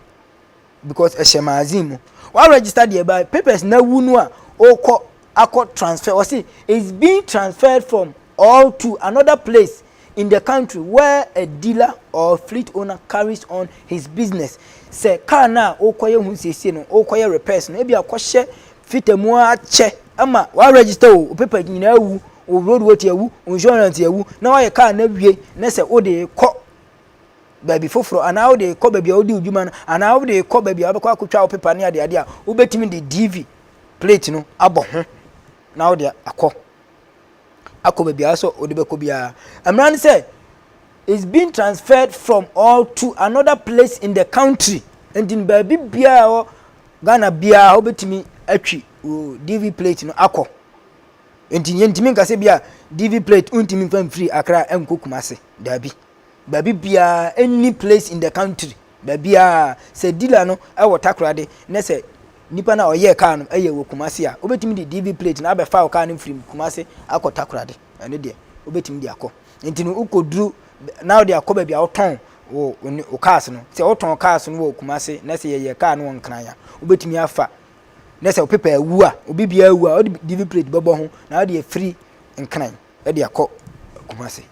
because ɛhyɛ magazine mu wa register deɛ ba papers na awu no a ɔkɔ akɔ transfer ɔsi is being transferred from or to another place in the country where a dealer or fleet owner carries on his business. Sɛ car no a wokɔyɛ ho nsiesie no, wokɔyɛ repairs no, ebia kɔhyɛ fita mu ara kyɛ ma wa register o, wo paper nyinaa awu, wo road weight awu, wo insurance awu, na woayɛ car no awie, na sɛ wode rekɔ baabi foforɔ anaa wode rekɔ baabi a wodi wo dwuma no anaa wode rekɔ baabi a wobɛkɔ akɔtwa wo paper ne adeade a, wobɛtumi de DV plate no abɔ ho na wode akɔ. akɔ baabi a ɔsɛ ɔde bɛkɔ biara. Mmara no sɛ is being transferred from or to another place in the country. Nti baabi biara wɔ Ghana biara wobɛtumi atwi wo DV plate no akɔ. Nti yɛntumi nkasɛ bi a DV plate wontumi mfa mfiri Accra nkɔ Kumase. Daabi. Baabi biaa any place in the country baabiaa sɛ dealer no wɔ takoradi ne sɛ nipa no a ɔyɛɛ car no yɛ wɔ Kumasi a wobɛtumi de DV plate no abɛfa wo car no firi Kumasi akɔ takoradi ɛno deɛ wobɛtumi de akɔ nti no wokɔduru na wode akɔ baabi a wotɔn wo wo cars no sɛ wotɔn cars no wɔ Kumasi na sɛ yɛyɛ car no wɔ Nkran a wobɛtumi afa ne sɛ wo paper awu a obi biaa awu a wode DV plate bɛbɔ ho na wode afiri Nkran de akɔ Kumasi.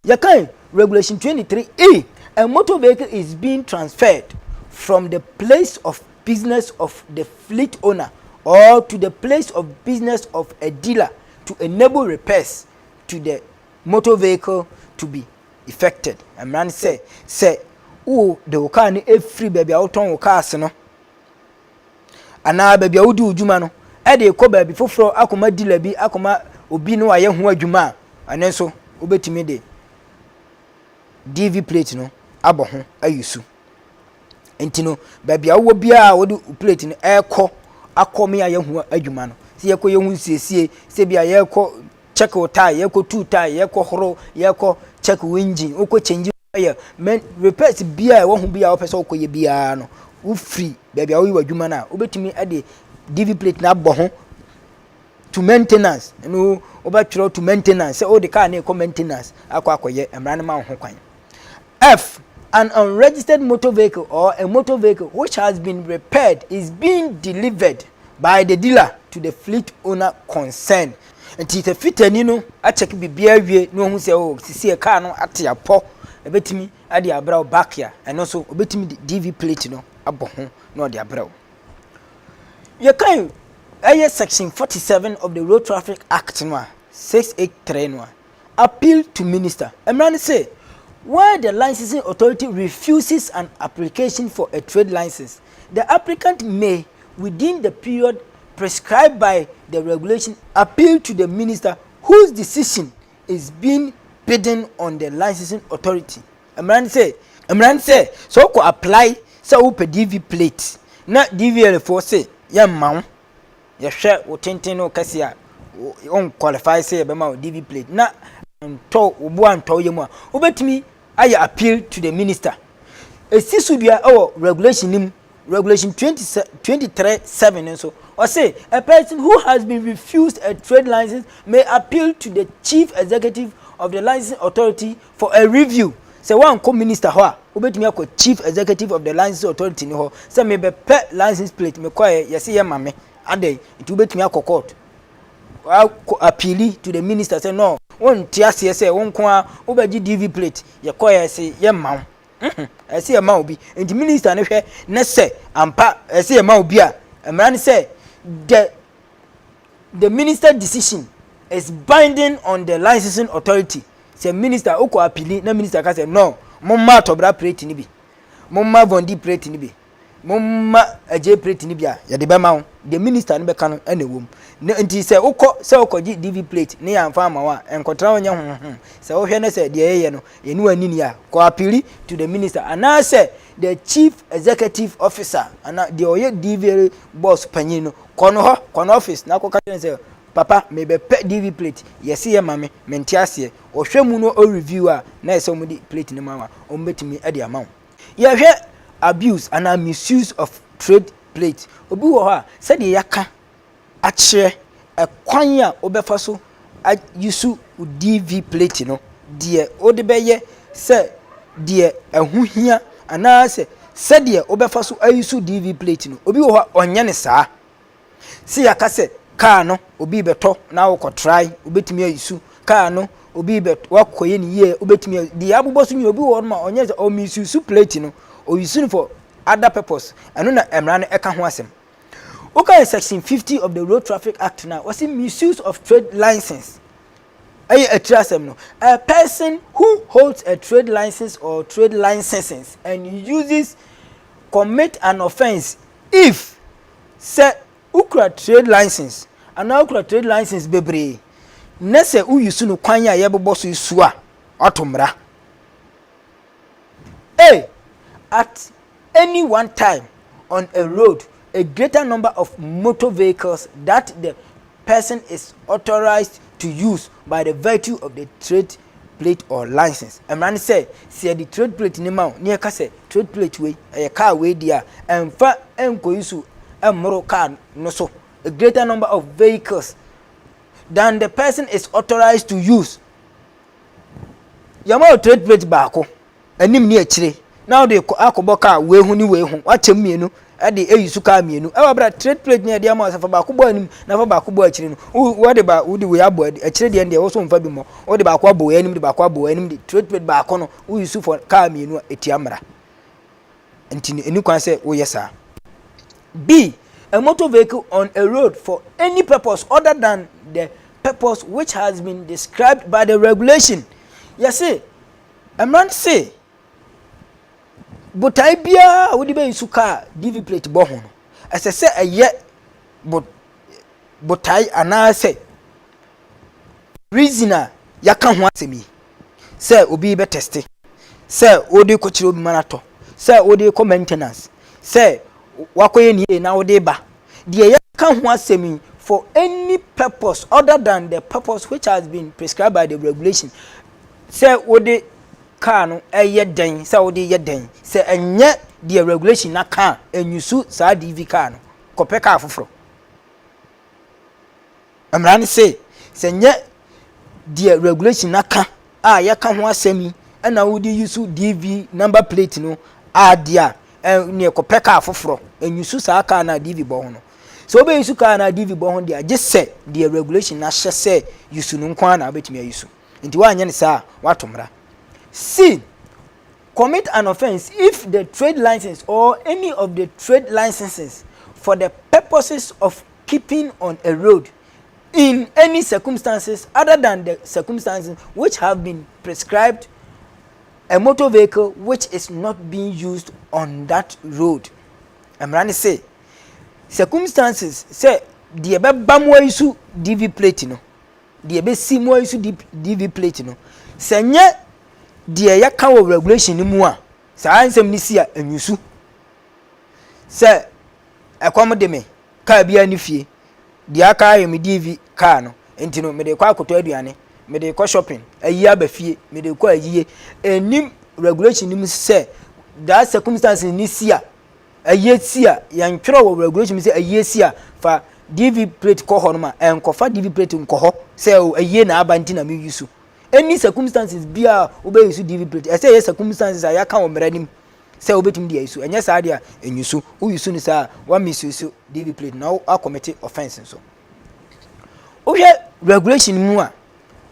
Yɛkae Regulation 23 E, A motor vehicle is being transferred from the place of business of the fleet owner or to the place of business of a dealer to enable repairs to the motor vehicle to be effected. Mmara no sɛ sɛ wo de wo kaa no firi baabi a wotɔn wo cars no anaa baabi a wodi wo dwuma no de rekɔ baabi foforɔ akɔma dila bi akɔma obi na wayɛ ho adwuma a ɛno nso wobɛtumi de dv plate no abɔ ho ayi so nti no baabi a wowɔ biara wode plate no ɛrekɔ akɔ me ayɛ ho adwuma no sɛ yɛkɔ yɛ ho nsiesie sɛ bi a yɛrekɔ check wo tire yɛkɔ tu tire yɛkɔ horo yɛkɔ check wo engine wokɔ change oil men repairs biara ɛwɔ ho biara wopɛ sɛ wokɔ yɛ biara no wofiri baabi a woyɛ w'adwuma no a wobɛtumi de dv plate no abɔ ho to maintenance ɛno wobɛtwerɛ to maintenance sɛ wode car no ɛkɔ maintenance akɔ akɔyɛ mmara no ma wo ho kwan f an unregistered motor vehicle or a motor vehicle which has been repaired is being delivered by the dealer to the fleet owner concerned Nti sɛ fitani no akyɛke biribiara awie na wahu sɛ oh, sisi kaa no ate apɔ, ɛbɛtumi de abrɛ wo back a, ɛno nso ɔbɛtumi de DV plate no abɔ ho na ɔde abrɛ wo. Yɛkan ɛyɛ section 47 of the Road Traffic Act no a, 683 no a, Appeal to Minister, Mmara no se, Where the licensing authority refuses an application for a trade license, the applicant may, within the period prescribed by the regulation, appeal to the Minister whose decision is being bidden on the licensing authority. Mmara no se, Mmara no se, sɛ wokɔ apply sɛ wopɛ DV plate na DVLA foɔ se yɛmma wo, Yɛhwɛ wo tenten ne wo kɛseɛ a, wo nqualify sɛ yɛbɛma wo DV plate na antɔ wo bo antɔ wo yam a, wobɛtumi ayɛ appeal to the minister. Ɛsi so dua wɔ regulation no mu, regulation 20, 23 7 no nso. Ɔse, a person who has been refused a trade license may appeal to the chief executive of the licensing authority For a review, Sɛ woankɔ Minister hɔ a, wobɛtumi akɔ Chief Executive of the Licensing Authority no hɔ sɛ mebɛpɛ License Plate, mekɔeɛ, yɛse yɛmma me. Adɛn? Nti wobɛtumi akɔ Court akɔ appeali to the Minister sɛ no, wonte aseɛ sɛ wo nko ara wobɛgye DV Plate, yɛkɔeɛ a yɛse yɛmma wo. Humm, ɛsɛ yɛma obi. Nti Minister no hwɛ na sɛ ampa ɛsɛ yɛma obi a, mmara ne sɛ the. the minister decision is binding on the licensing authority sɛ minister wokɔ apili na minister ka sɛ no momma atɔbra plate no bi momma vondi plate no bi momma agye plate no bi a yɛde bɛma wo the minister no bɛka no ɛna ɛwom na nti sɛ wokɔ sɛ wokɔgye dv plate ne yɛamfa ama wo a ɛnkɔtra wo nyɛ honhom sɛ wohwɛ no sɛ deɛ yɛyɛ no yɛne w'ani ni a kɔ apili to the minister anaasɛ the chief executive officer ana deɛ ɔyɛ dv boss panyin no Kɔ no hɔ, kɔ no office na kɔka kyerɛ no sɛ papa mebɛpɛ DV plate yɛse yɛ ma me mente aseɛ ɔhwɛ mu no o review a na ɛsɛ ɔmo de plate no ma wa ɔmo bɛtumi de ama wo yɛhwɛ abuse anaa misuse of trade plate obi wɔ hɔ a sɛdeɛ yɛaka akyerɛ ɛkwan a wobɛfa so a use wo DV plate no, deɛ wode bɛyɛ sɛ deɛ ɛho hia anaasɛ sɛdeɛ wobɛfa so ayusu DV plate no, obi wɔ hɔ a ɔnyɛ no saa. Sɛ yɛaka sɛ kaa no obi bɛtɔ na wokɔtrae, wobɛtumi ayusu kaa no obi bɛ wakɔyɛ no yie wobɛtumi ayusu deɛ abobɔ so nyina obi wɔ hɔ ma ɔnyɛ sɛ ɔmisusu plate no ɔyusu no for other purpose ɛno na mmara no ɛka ho asɛm. Wokae Section 50 of the Road Traffic Act no a, wɔse misuse of trade license ɛyɛ atiri asɛm no. A person who holds a trade license or trade licenses and uses commit an offence if sɛ wokura trade license anaa wokura trade license bebree na sɛ woyi so no kwan a yɛbobɔ so su a wato mmara. A. At Any one time on a road, a greater number of motor vehicles that the person is authorized to use by the virtue of the trade plate or license. Mmara ne sɛ, sɛ yɛde trade plate ne ma wo, ne yɛka sɛ trade plate wei, ɛyɛ kaa wei deɛ a, ɛmfa nkɔyi so mmoro kaa no so. A greater number of vehicles than the person is authorized to use. Yɛma wo trade plate baako. anim ne akyire na wode rekɔ akɔbɔ kaa wei ho ne wei ho wakyɛm mmienu de ayi so kaa mmienu ɛwɔ abira trade plate ne ɛde ama sɛ fa baako bɔ anim na fa baako bɔ akyire no wɔde ba wode wei abɔ akyire deɛ deɛ wɔso nfa bi mmɔ wode baako abɔ wei anim de baako abɔ wei anim de trade plate baako no woyi so fɔ kaa mmienu a etia mmara nti no ɛni kwan sɛ woyɛ saa b a motor vehicle on a road for any purpose other than the purpose which has been described by the regulation yɛse Mmara no se botae biara a wode bɛyi so kaa DV plate bɔ ho no, ɛsɛ sɛ ɛyɛ botae anaasɛ reason a yɛaka ho asɛm yi, sɛ obi rebɛtɛste, sɛ wode rekɔkyerɛ obi ma no atɔ, sɛ wode rekɔ maintenance, sɛ wakɔyɛ ne yie na wode reba. Deɛ yɛka ho asɛm yi for any purpose other than the purpose which has been prescribed by the regulation Sɛ wode car no yɛ dɛn sɛ wode yɛ dɛn sɛ ɛnyɛ deɛ regulation no aka a ɛnyusu saa DV car no kɔpɛ car foforɔ. Mmara no se sɛ ɛnyɛ deɛ regulation no aka a yɛka ho asɛm yi ɛna wode yusu DV number plate no a deɛ a ɛneɛ kɔpɛ car foforɔ ɛnyusu saa car no a DV bɔ ho no. Sɛ wobɛyusu car no a DV bɔ ho deɛ a gye sɛ deɛ regulation no ahyɛ sɛ yusu no nko ara na wobɛtumi ayusu. Enti woanyɛ no saa a, woato mmara. C. Commit an offence if the trade license or any of the trade licenses for the purposes of keeping on a road in any circumstances other than the circumstances which have been prescribed a motor vehicle which is not being used on that road. Mmara no se, circumstances sɛ deɛ ɛbɛba mu ayi so DV plate no, Deɛ ɛbɛsi mu ha yi nso DP, DV plate no, sɛ nyɛ deɛ yɛka wɔ regulation no mu a, saa nsɛm no si a ɛnyusu. Sɛ ɛkɔm de me, kaa biara ne fie, deɛ aka ayɛ me DV kaa no, nti no mede kɔ akɔtɔ aduane, mede kɔ shopping, ayi aba fie, mede kɔ ayie. Ɛnim regulation no mu sɛ that circumstances no si a, Ayiesie a, yɛntwerɛ wɔ regulation mu sɛ ayiesie a fa DV plate kɔ hɔnom a, ɛnkɔfa DV plate nkɔ hɔ sɛ o ayie na aba nti na me use. Any circumstances biara a wobɛ use DV plate, ɛsɛ ɛyɛ circumstances a yɛaka wɔ mmara no mu sɛ wobɛtumi de a use, ɛnyɛ saa deɛ a ɛnyusu. Wo use no saa a, wa misuse DV plate na wo akɔmete offence nso. Wohwɛ regulation mu a,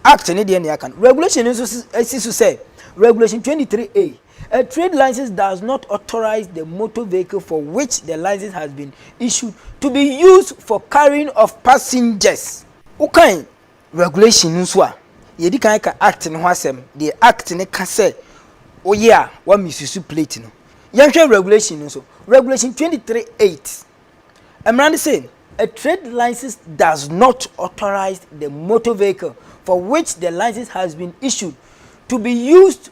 act ne deɛ na yɛaka no. Regulation no nso si so sɛ, regulation 23A, A trade license does not authorize the motor vehicle for which the license has been issued to be used for carrying of passengers. Wokan regulation no nso a, yɛdi kan ka Act no ho asɛm, deɛ Act no ka sɛ woyɛ a wa misuse plate no. Yɛnhwɛ regulation no nso. Regulation 23 8. Mmara no se, A trade license does not authorize the motor vehicle for which the license has been issued to be used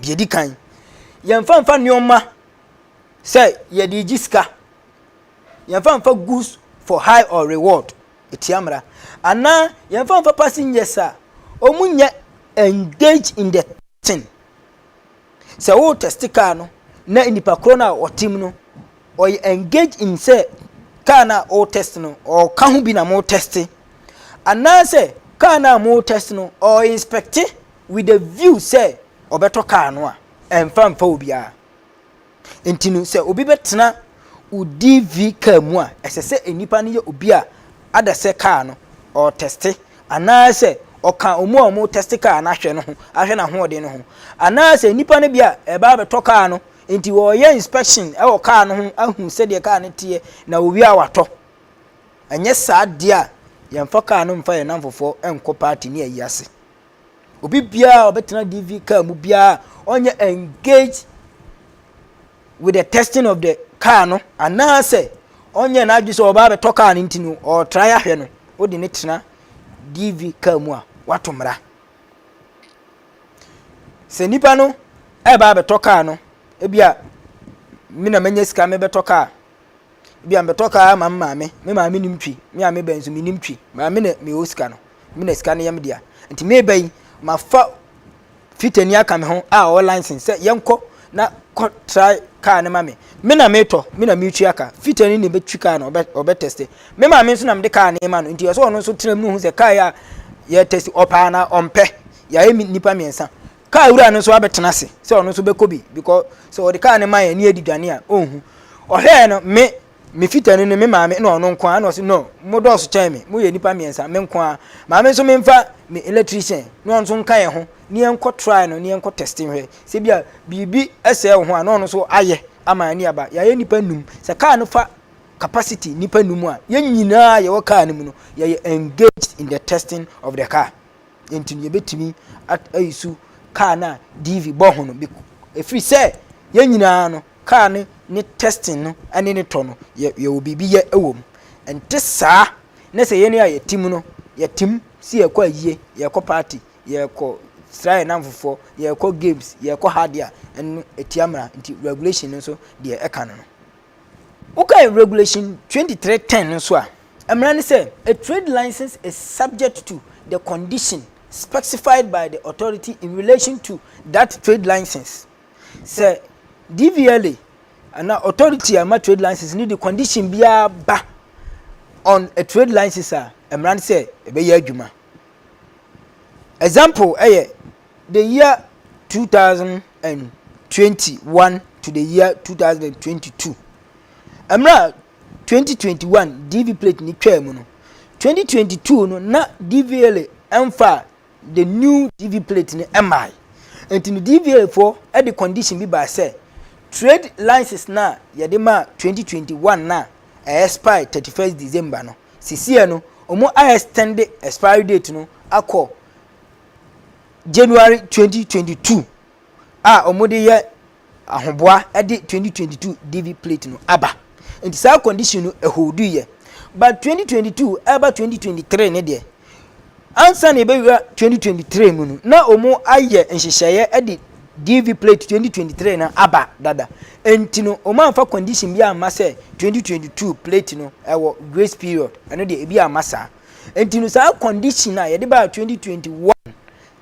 Deɛ ɛdi kan, yɛmfa mfa nneɛma sɛ yɛde regye sika, yɛmfa mfa goods for high or reward, ɛtia mmara, anaa yɛmfa mfa passengers a wɔn nyɛ engage in the testing. Sɛ wo test car no na nipa korɔ no a ɔte mu no ɔyɛ engage in sɛ car no a ɔwɔ test no ɔka ho bi na mo test anaasɛ car no a mo test no ɔyɛ inspecte With a view sɛ ɔbɛtɔ car no a, ɛmfa mfa obiara. Nti no sɛ obi bɛtena wo DV car mu a, ɛsɛ sɛ nnipa no yɛ obi a ada sɛ car no ɔretɛste anaasɛ ɔka wɔn a wɔretɛste car no ahwɛ no ho, ahwɛ n'ahoɔden no ho. Anaasɛ nnipa no bi a ɛreba abɛtɔ car no, nti wɔreyɛ inspection wɔ car no ho ahu sɛdeɛ car no teɛ na wɔwie a wɔatɔ. Ɛnyɛ saa deɛ a, yɛmfa car no mfa yɛn nnamfofoɔ nkɔ party ne ayi ase. Obi biara a ɔbɛtena DV car mu biara ɔnyɛ engage with the testing of the car no anaasɛ ɔnyɛ n'adwene sɛ ɔba abɛtɔ car no nti no ɔretra ahwɛ no wode ne tena DV car mu a wato mmara. Sɛ nipa no ɛba abɛtɔ car no ebi a me na manya sika mebɛtɔ car Ebia mebɛtɔ kaa ama me maame. Me maame nim twi. Me a meba yi nso menim twi. Maa me na mewɔ sika no. Me na sika no yɛ me dea. Nti meba yi, mafa fitani aka me ho a ɔwɔ license sɛ yɛnkɔ na kɔ try kaa no ma me. Me na metɔ, me na metua ka. Fitani na ebetwi kaa no, ɔbɛ ɔbɛ tɛste. Me maame nso na mede kaa no rema no. Nti ɔsɛ ɔno nso tena mu hu sɛ kaa yi a yɛtɛste ɔpɛ anaa ɔmpɛ. Yɛayɛ me nnipa mmiɛnsa. Kaa wura no nso abɛtena ase sɛ ɔno nso bɛkɔ bi because sɛ ɔde kaa no ma yɛn ne yɛde dwane a ɔnhu. Ɔhwɛɛ no me, me fitani no, me maame na ɔno nko ara na ɔse no mo dɔɔso kyɛn me, moyɛ nnipa mmiɛnsa me nko ara. Maame nso memfa me electrician na ɔno nso nka yɛn ho na yɛnkɔ try no na yɛnkɔ test nhwɛ sɛ bi a biribi sɛe wo ho a na ɔno nso ayɛ ama ani aba. Yɛayɛ nnipa num. Sɛ kaa no fa capacity nnipa num a, yɛn nyinaa a yɛwɔ kaa no mu no yɛyɛ engaged in the testing of the car. Enti no, yɛbɛtumi ayi so kaa no a DV bɔ ho no, ɛfiri sɛ yɛn nyinaa no, kaa no ne testing no ne ne tɔ no, yɛwɔ biribi yɛ wɔ mu. Ɛnte saa na sɛ yɛn a yɛtim no, yɛtim si yɛkɔ ayie, yɛkɔ party, yɛkɔ sra yɛn namfofoɔ, yɛkɔ games, yɛkɔ ha deɛ a, ɛno ɛtia mmara. Nti regulation no nso deɛ ɛka no no. Wokae regulation 2310 no nso a, Mmara ne sɛ, A trade license is subject to the condition specified by the authority in relation to that trade license. Sɛ DVLA anaa authority a ɛma trade license no de condition biara ba on a trade license a, mmara ne sɛ ɛbɛyɛ adwuma. Example yɛ the year 2021 to the year 2022. Mmara Twenty twenty one DV plate no twaa mu no, twenty twenty two no na DVLA ɛmfaa the new DV plate no ɛmmae. Nti no DVLA foɔ ɛde condition bi baa sɛ trade license no a yɛde maa twenty twenty one no a ɛyɛ expire thirty first December no, sisiɛ no ɔmo a extend expiry date no akɔ January twenty twenty two a ɔmo de yɛ Ahoboa de twenty twenty two Divi plate no aba nti saa condition no ɛholdu yɛ but twenty twenty two ɛba twenty twenty three ne deɛ ansa na ebewura twenty twenty three mu no na wɔn ayɛ nhyehyɛeɛ de Divi plate twenty twenty three no aba dada nti no wɔn anfa condition bi amma sɛ twenty twenty two plate no ɛwɔ grace period ɛno deɛ ebi amma saa nti no saa condition a yɛde baa twenty twenty one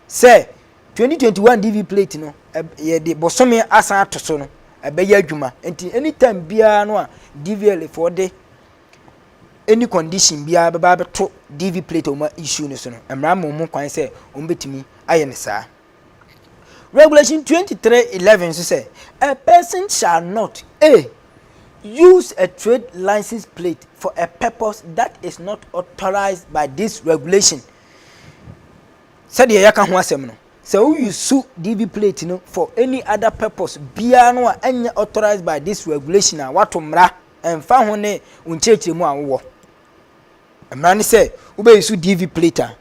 Sɛ 2021 DV plate no yɛde bosome asan ato so no, ɛbɛyɛ adwuma. Nti anytime biara no a DVLA foɔ de any condition biara bɛba abɛto DV plate a wɔn issue no so no, mmara ma wɔn kwan sɛ wɔn bɛtumi ayɛ no saa. Regulation 2311 nso sɛ a person shall not a use a trade license plate for a purpose that is not authorized by this regulation. Sɛdeɛ yɛaka ho asɛm no, sɛ wo use DV plate no for any other purpose biara no a ɛnyɛ authorized by this regulation a woato mmara ɛmfa ho ne wo nkyerɛkyerɛmu a wowɔ. Mmara ne sɛ wobɛ use DV plate a,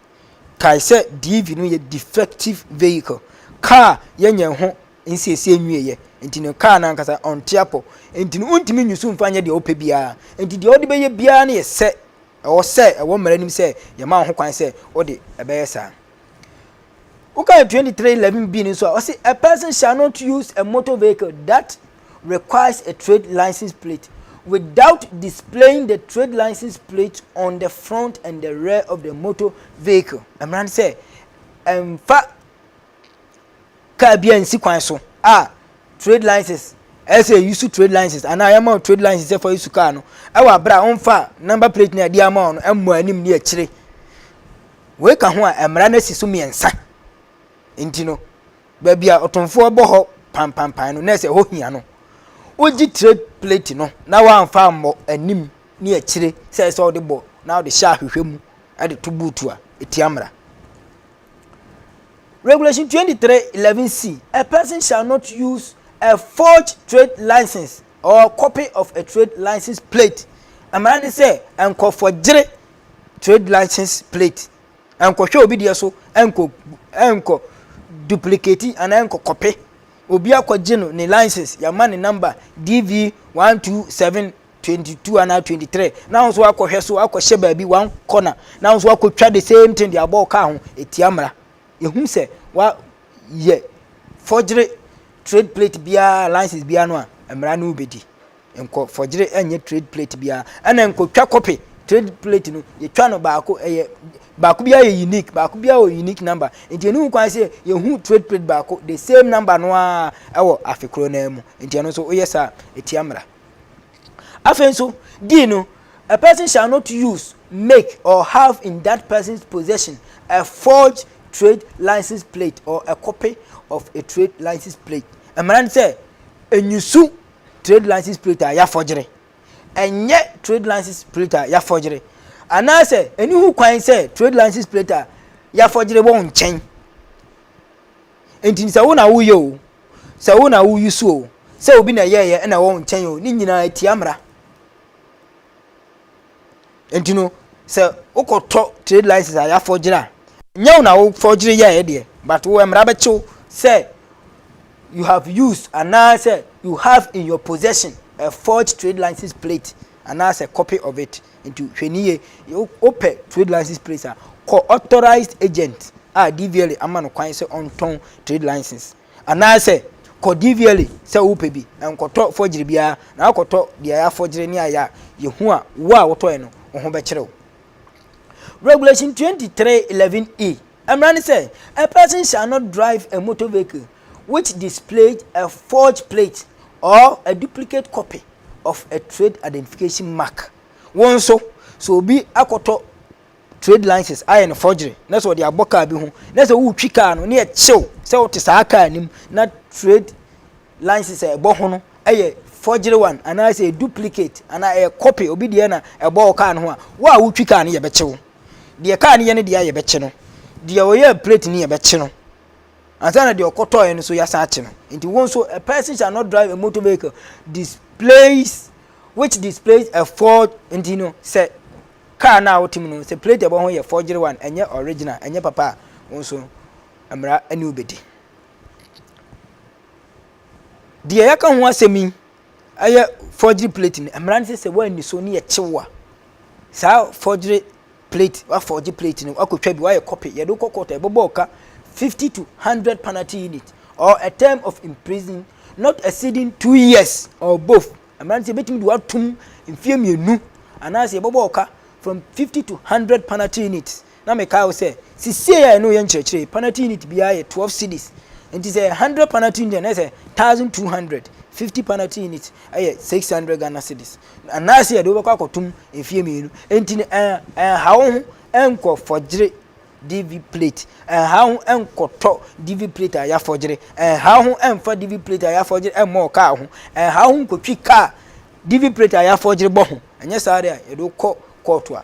kae sɛ DV no yɛ defective vehicle, car yɛnyɛ ho nsiesie nwieɛ nti no car no ankasa ɔnte apɔ nti no wontumi use mfa nyɛ deɛ wopɛ biara nti deɛ wode bɛyɛ biara no yɛ sɛ Ɛwɔ sɛ ɛwɔ mmara anim sɛ yɛma wo ho kwan sɛ wode ɛbɛyɛ saa. Wokan 2311 bi no nso a, ɔse a person shall not use a motor vehicle that requires a trade license plate without displaying the trade license plate on the front and the rear of the motor vehicle. Mmara no sɛ ɛmfa car bi ansi kwan so a trade license ɛyɛ sɛ yɛyi so trade license anaa yɛma wo trade license sɛ fa yi so car no ɛwɔ abere a wɔmfa number plate na ɛde ama wɔn no ɛmmɔ anim ne akyire wei ka ho a mmara no asi so mmiɛnsa nti no baabi a ɔtomfoɔ bɔ hɔ pampampan no na ɛsɛ hɔ hia no wogye trade plate no na wɔamfa ammɔ anim ne akyire sɛ ɛsɛ ɔde bɔ na ɔde hyɛ ahwehwɛ mu ɛde to buutu a ɛtia mmara Regulation 2311C, A person shall not use a forged trade license or copy of a trade license plate. Mmara ne sɛ nkɔfɔ gyere trade license plate. Nkɔhwɛ obi deɛ so, nkɔ nkɔ duplicate anaa nkɔ kɔpe. Obi akɔgye no ne license, yɛama ne number DV127 twenty two anaa twenty three na ahosuo akɔhwɛ so akɔhyɛ baabi one corner na ahosuo akɔtwa the same thing de abɔ ɔkaa ho etia mmara ehu sɛ wa yɛ fɔgyere trade plate biara license biara no a mmara no bɛdi nkɔ fɔgyere ɛnyɛ trade plate biara ɛna nkɔtwa kɔpe trade plate no yɛtwa no baako ɛyɛ baako biara yɛ unique baako biara wɔ unique number nti ɛnu kwan sɛ yɛhu trade plate baako the same number no a ɛwɔ afe korɔ no mu nti ɛno nso woyɛ saa etia mmara Afei nso, di no, a person shall not use, make, or have in that person's possession a forged trade license plate or a copy of a trade license plate. Mmara no sɛ, enyusu trade license plate a yɛafɔgyere. Ɛnyɛ trade license plate a yɛafɔgyere. Anaasɛ, ɛni ho kwan sɛ trade license plate a yɛafɔgyere wɔ wo nkyɛn. Enti sɛ wo na woyɛ o, sɛ wo na wo use o, sɛ obi na ɛyɛɛyɛ ɛna ɛwɔ wo nkyɛn o, ne nyinaa ɛtia mmara. Enti no, sɛ wokɔtɔ trade license a yɛafɔgyere a, nyɛ wo na wofɔgyere yɛɛ deɛ, but wo mmara bɛkyew sɛ you have used anaasɛ you have in your possession a forged trade license plate anaasɛ copy of it. Nti hwɛ no yie. Wopɛ trade license place a, kɔ authorized agent a DVLA ama no kwan sɛ ɔntɔn trade license. Anaasɛ kɔ DVLA sɛ wopɛ bi, na nkɔtɔ fɔgyere biara, na akɔtɔ deɛ yɛafɔgyere ne ayɛ a, yɛhu a, wo a wotɔɛ no, wo ho bɛkyere wo. Regulation 2311E, Mmara ne sɛ, A person shall not drive a motor vehicle which displays a forged plate or a duplicate copy of a trade identification mark. Wo nso, sɛ obi akɔtɔ trade license ayɛ no forgery na sɛ ɔde abɔ kaa bi ho na sɛ wotwi kaa no na ɛkyew sɛ wote saa kaa no mu na trade license a ɛbɔ ho no yɛ forgery one anaasɛ duplicate anaa ɛyɛ copy obi deɛ na ɛbɔ wo kaa no ho a, wo a wotwi kaa no yɛbɛkyew. Deɛ kaa no yɛ no deɛ yɛbɛkye no, deɛ ɔyɛɛ plate no yɛbɛkye no. Ansa na deɛ ɔkɔtɔɔeɛ no so yɛasan akye no. Nti wo nso a person shall not drive a motor vehicle displays which displays a forged nti no sɛ kaa no a wote mu no sɛ plate ɛbɔ ho yɛ forgery one ɛnyɛ original ɛnyɛ papa a wo nso mmara ne wobɛdi. Deɛ yɛaka ho asɛm yi ɛyɛ forgery plate no mmara no sɛ sɛ woanni so ne yɛ kyew a saa forgery plate wa forge plate no wakɔtwa bi wayɛ copy yɛde wokɔ court a ɛbɛbɔ ɔka fifty to hundred penalty unit or a term of imprison not exceeding two years or both mmara no sɛ yɛbɛtumi de watom mfeɛ mmienu anaasɛ yɛbɛbɔ ɔka from fifty to hundred penalty units Na mekae wo sɛ, Sisiei a ɛne wo yɛ nkyerɛkyerɛ yi, panati unit biara yɛ twelve cedis. Enti sɛ ɛyɛ hundred panati unit a, na ɛyɛ sɛ thousand two hundred. Fifty panati unit yɛ six hundred Ghana cedis. Anaase yɛde wo bɛkɔ akɔtom mfeɛ mmienu. Enti no, ɛn, ɛnha wo ho nkɔ fɔgyere DV plate. Ɛnha wo ho nkɔtɔ DV plate a yɛafɔgyere. Ɛnha wo ho mfa DV plate a yɛafɔgyere mmɔ wo kaa ho. Ɛnha wo ho nkɔtwi kaa DV plate a yɛafɔgyere bɔ ho. Ɛnyɛ saa deɛ a, yɛde wo kɔ kɔɔto a.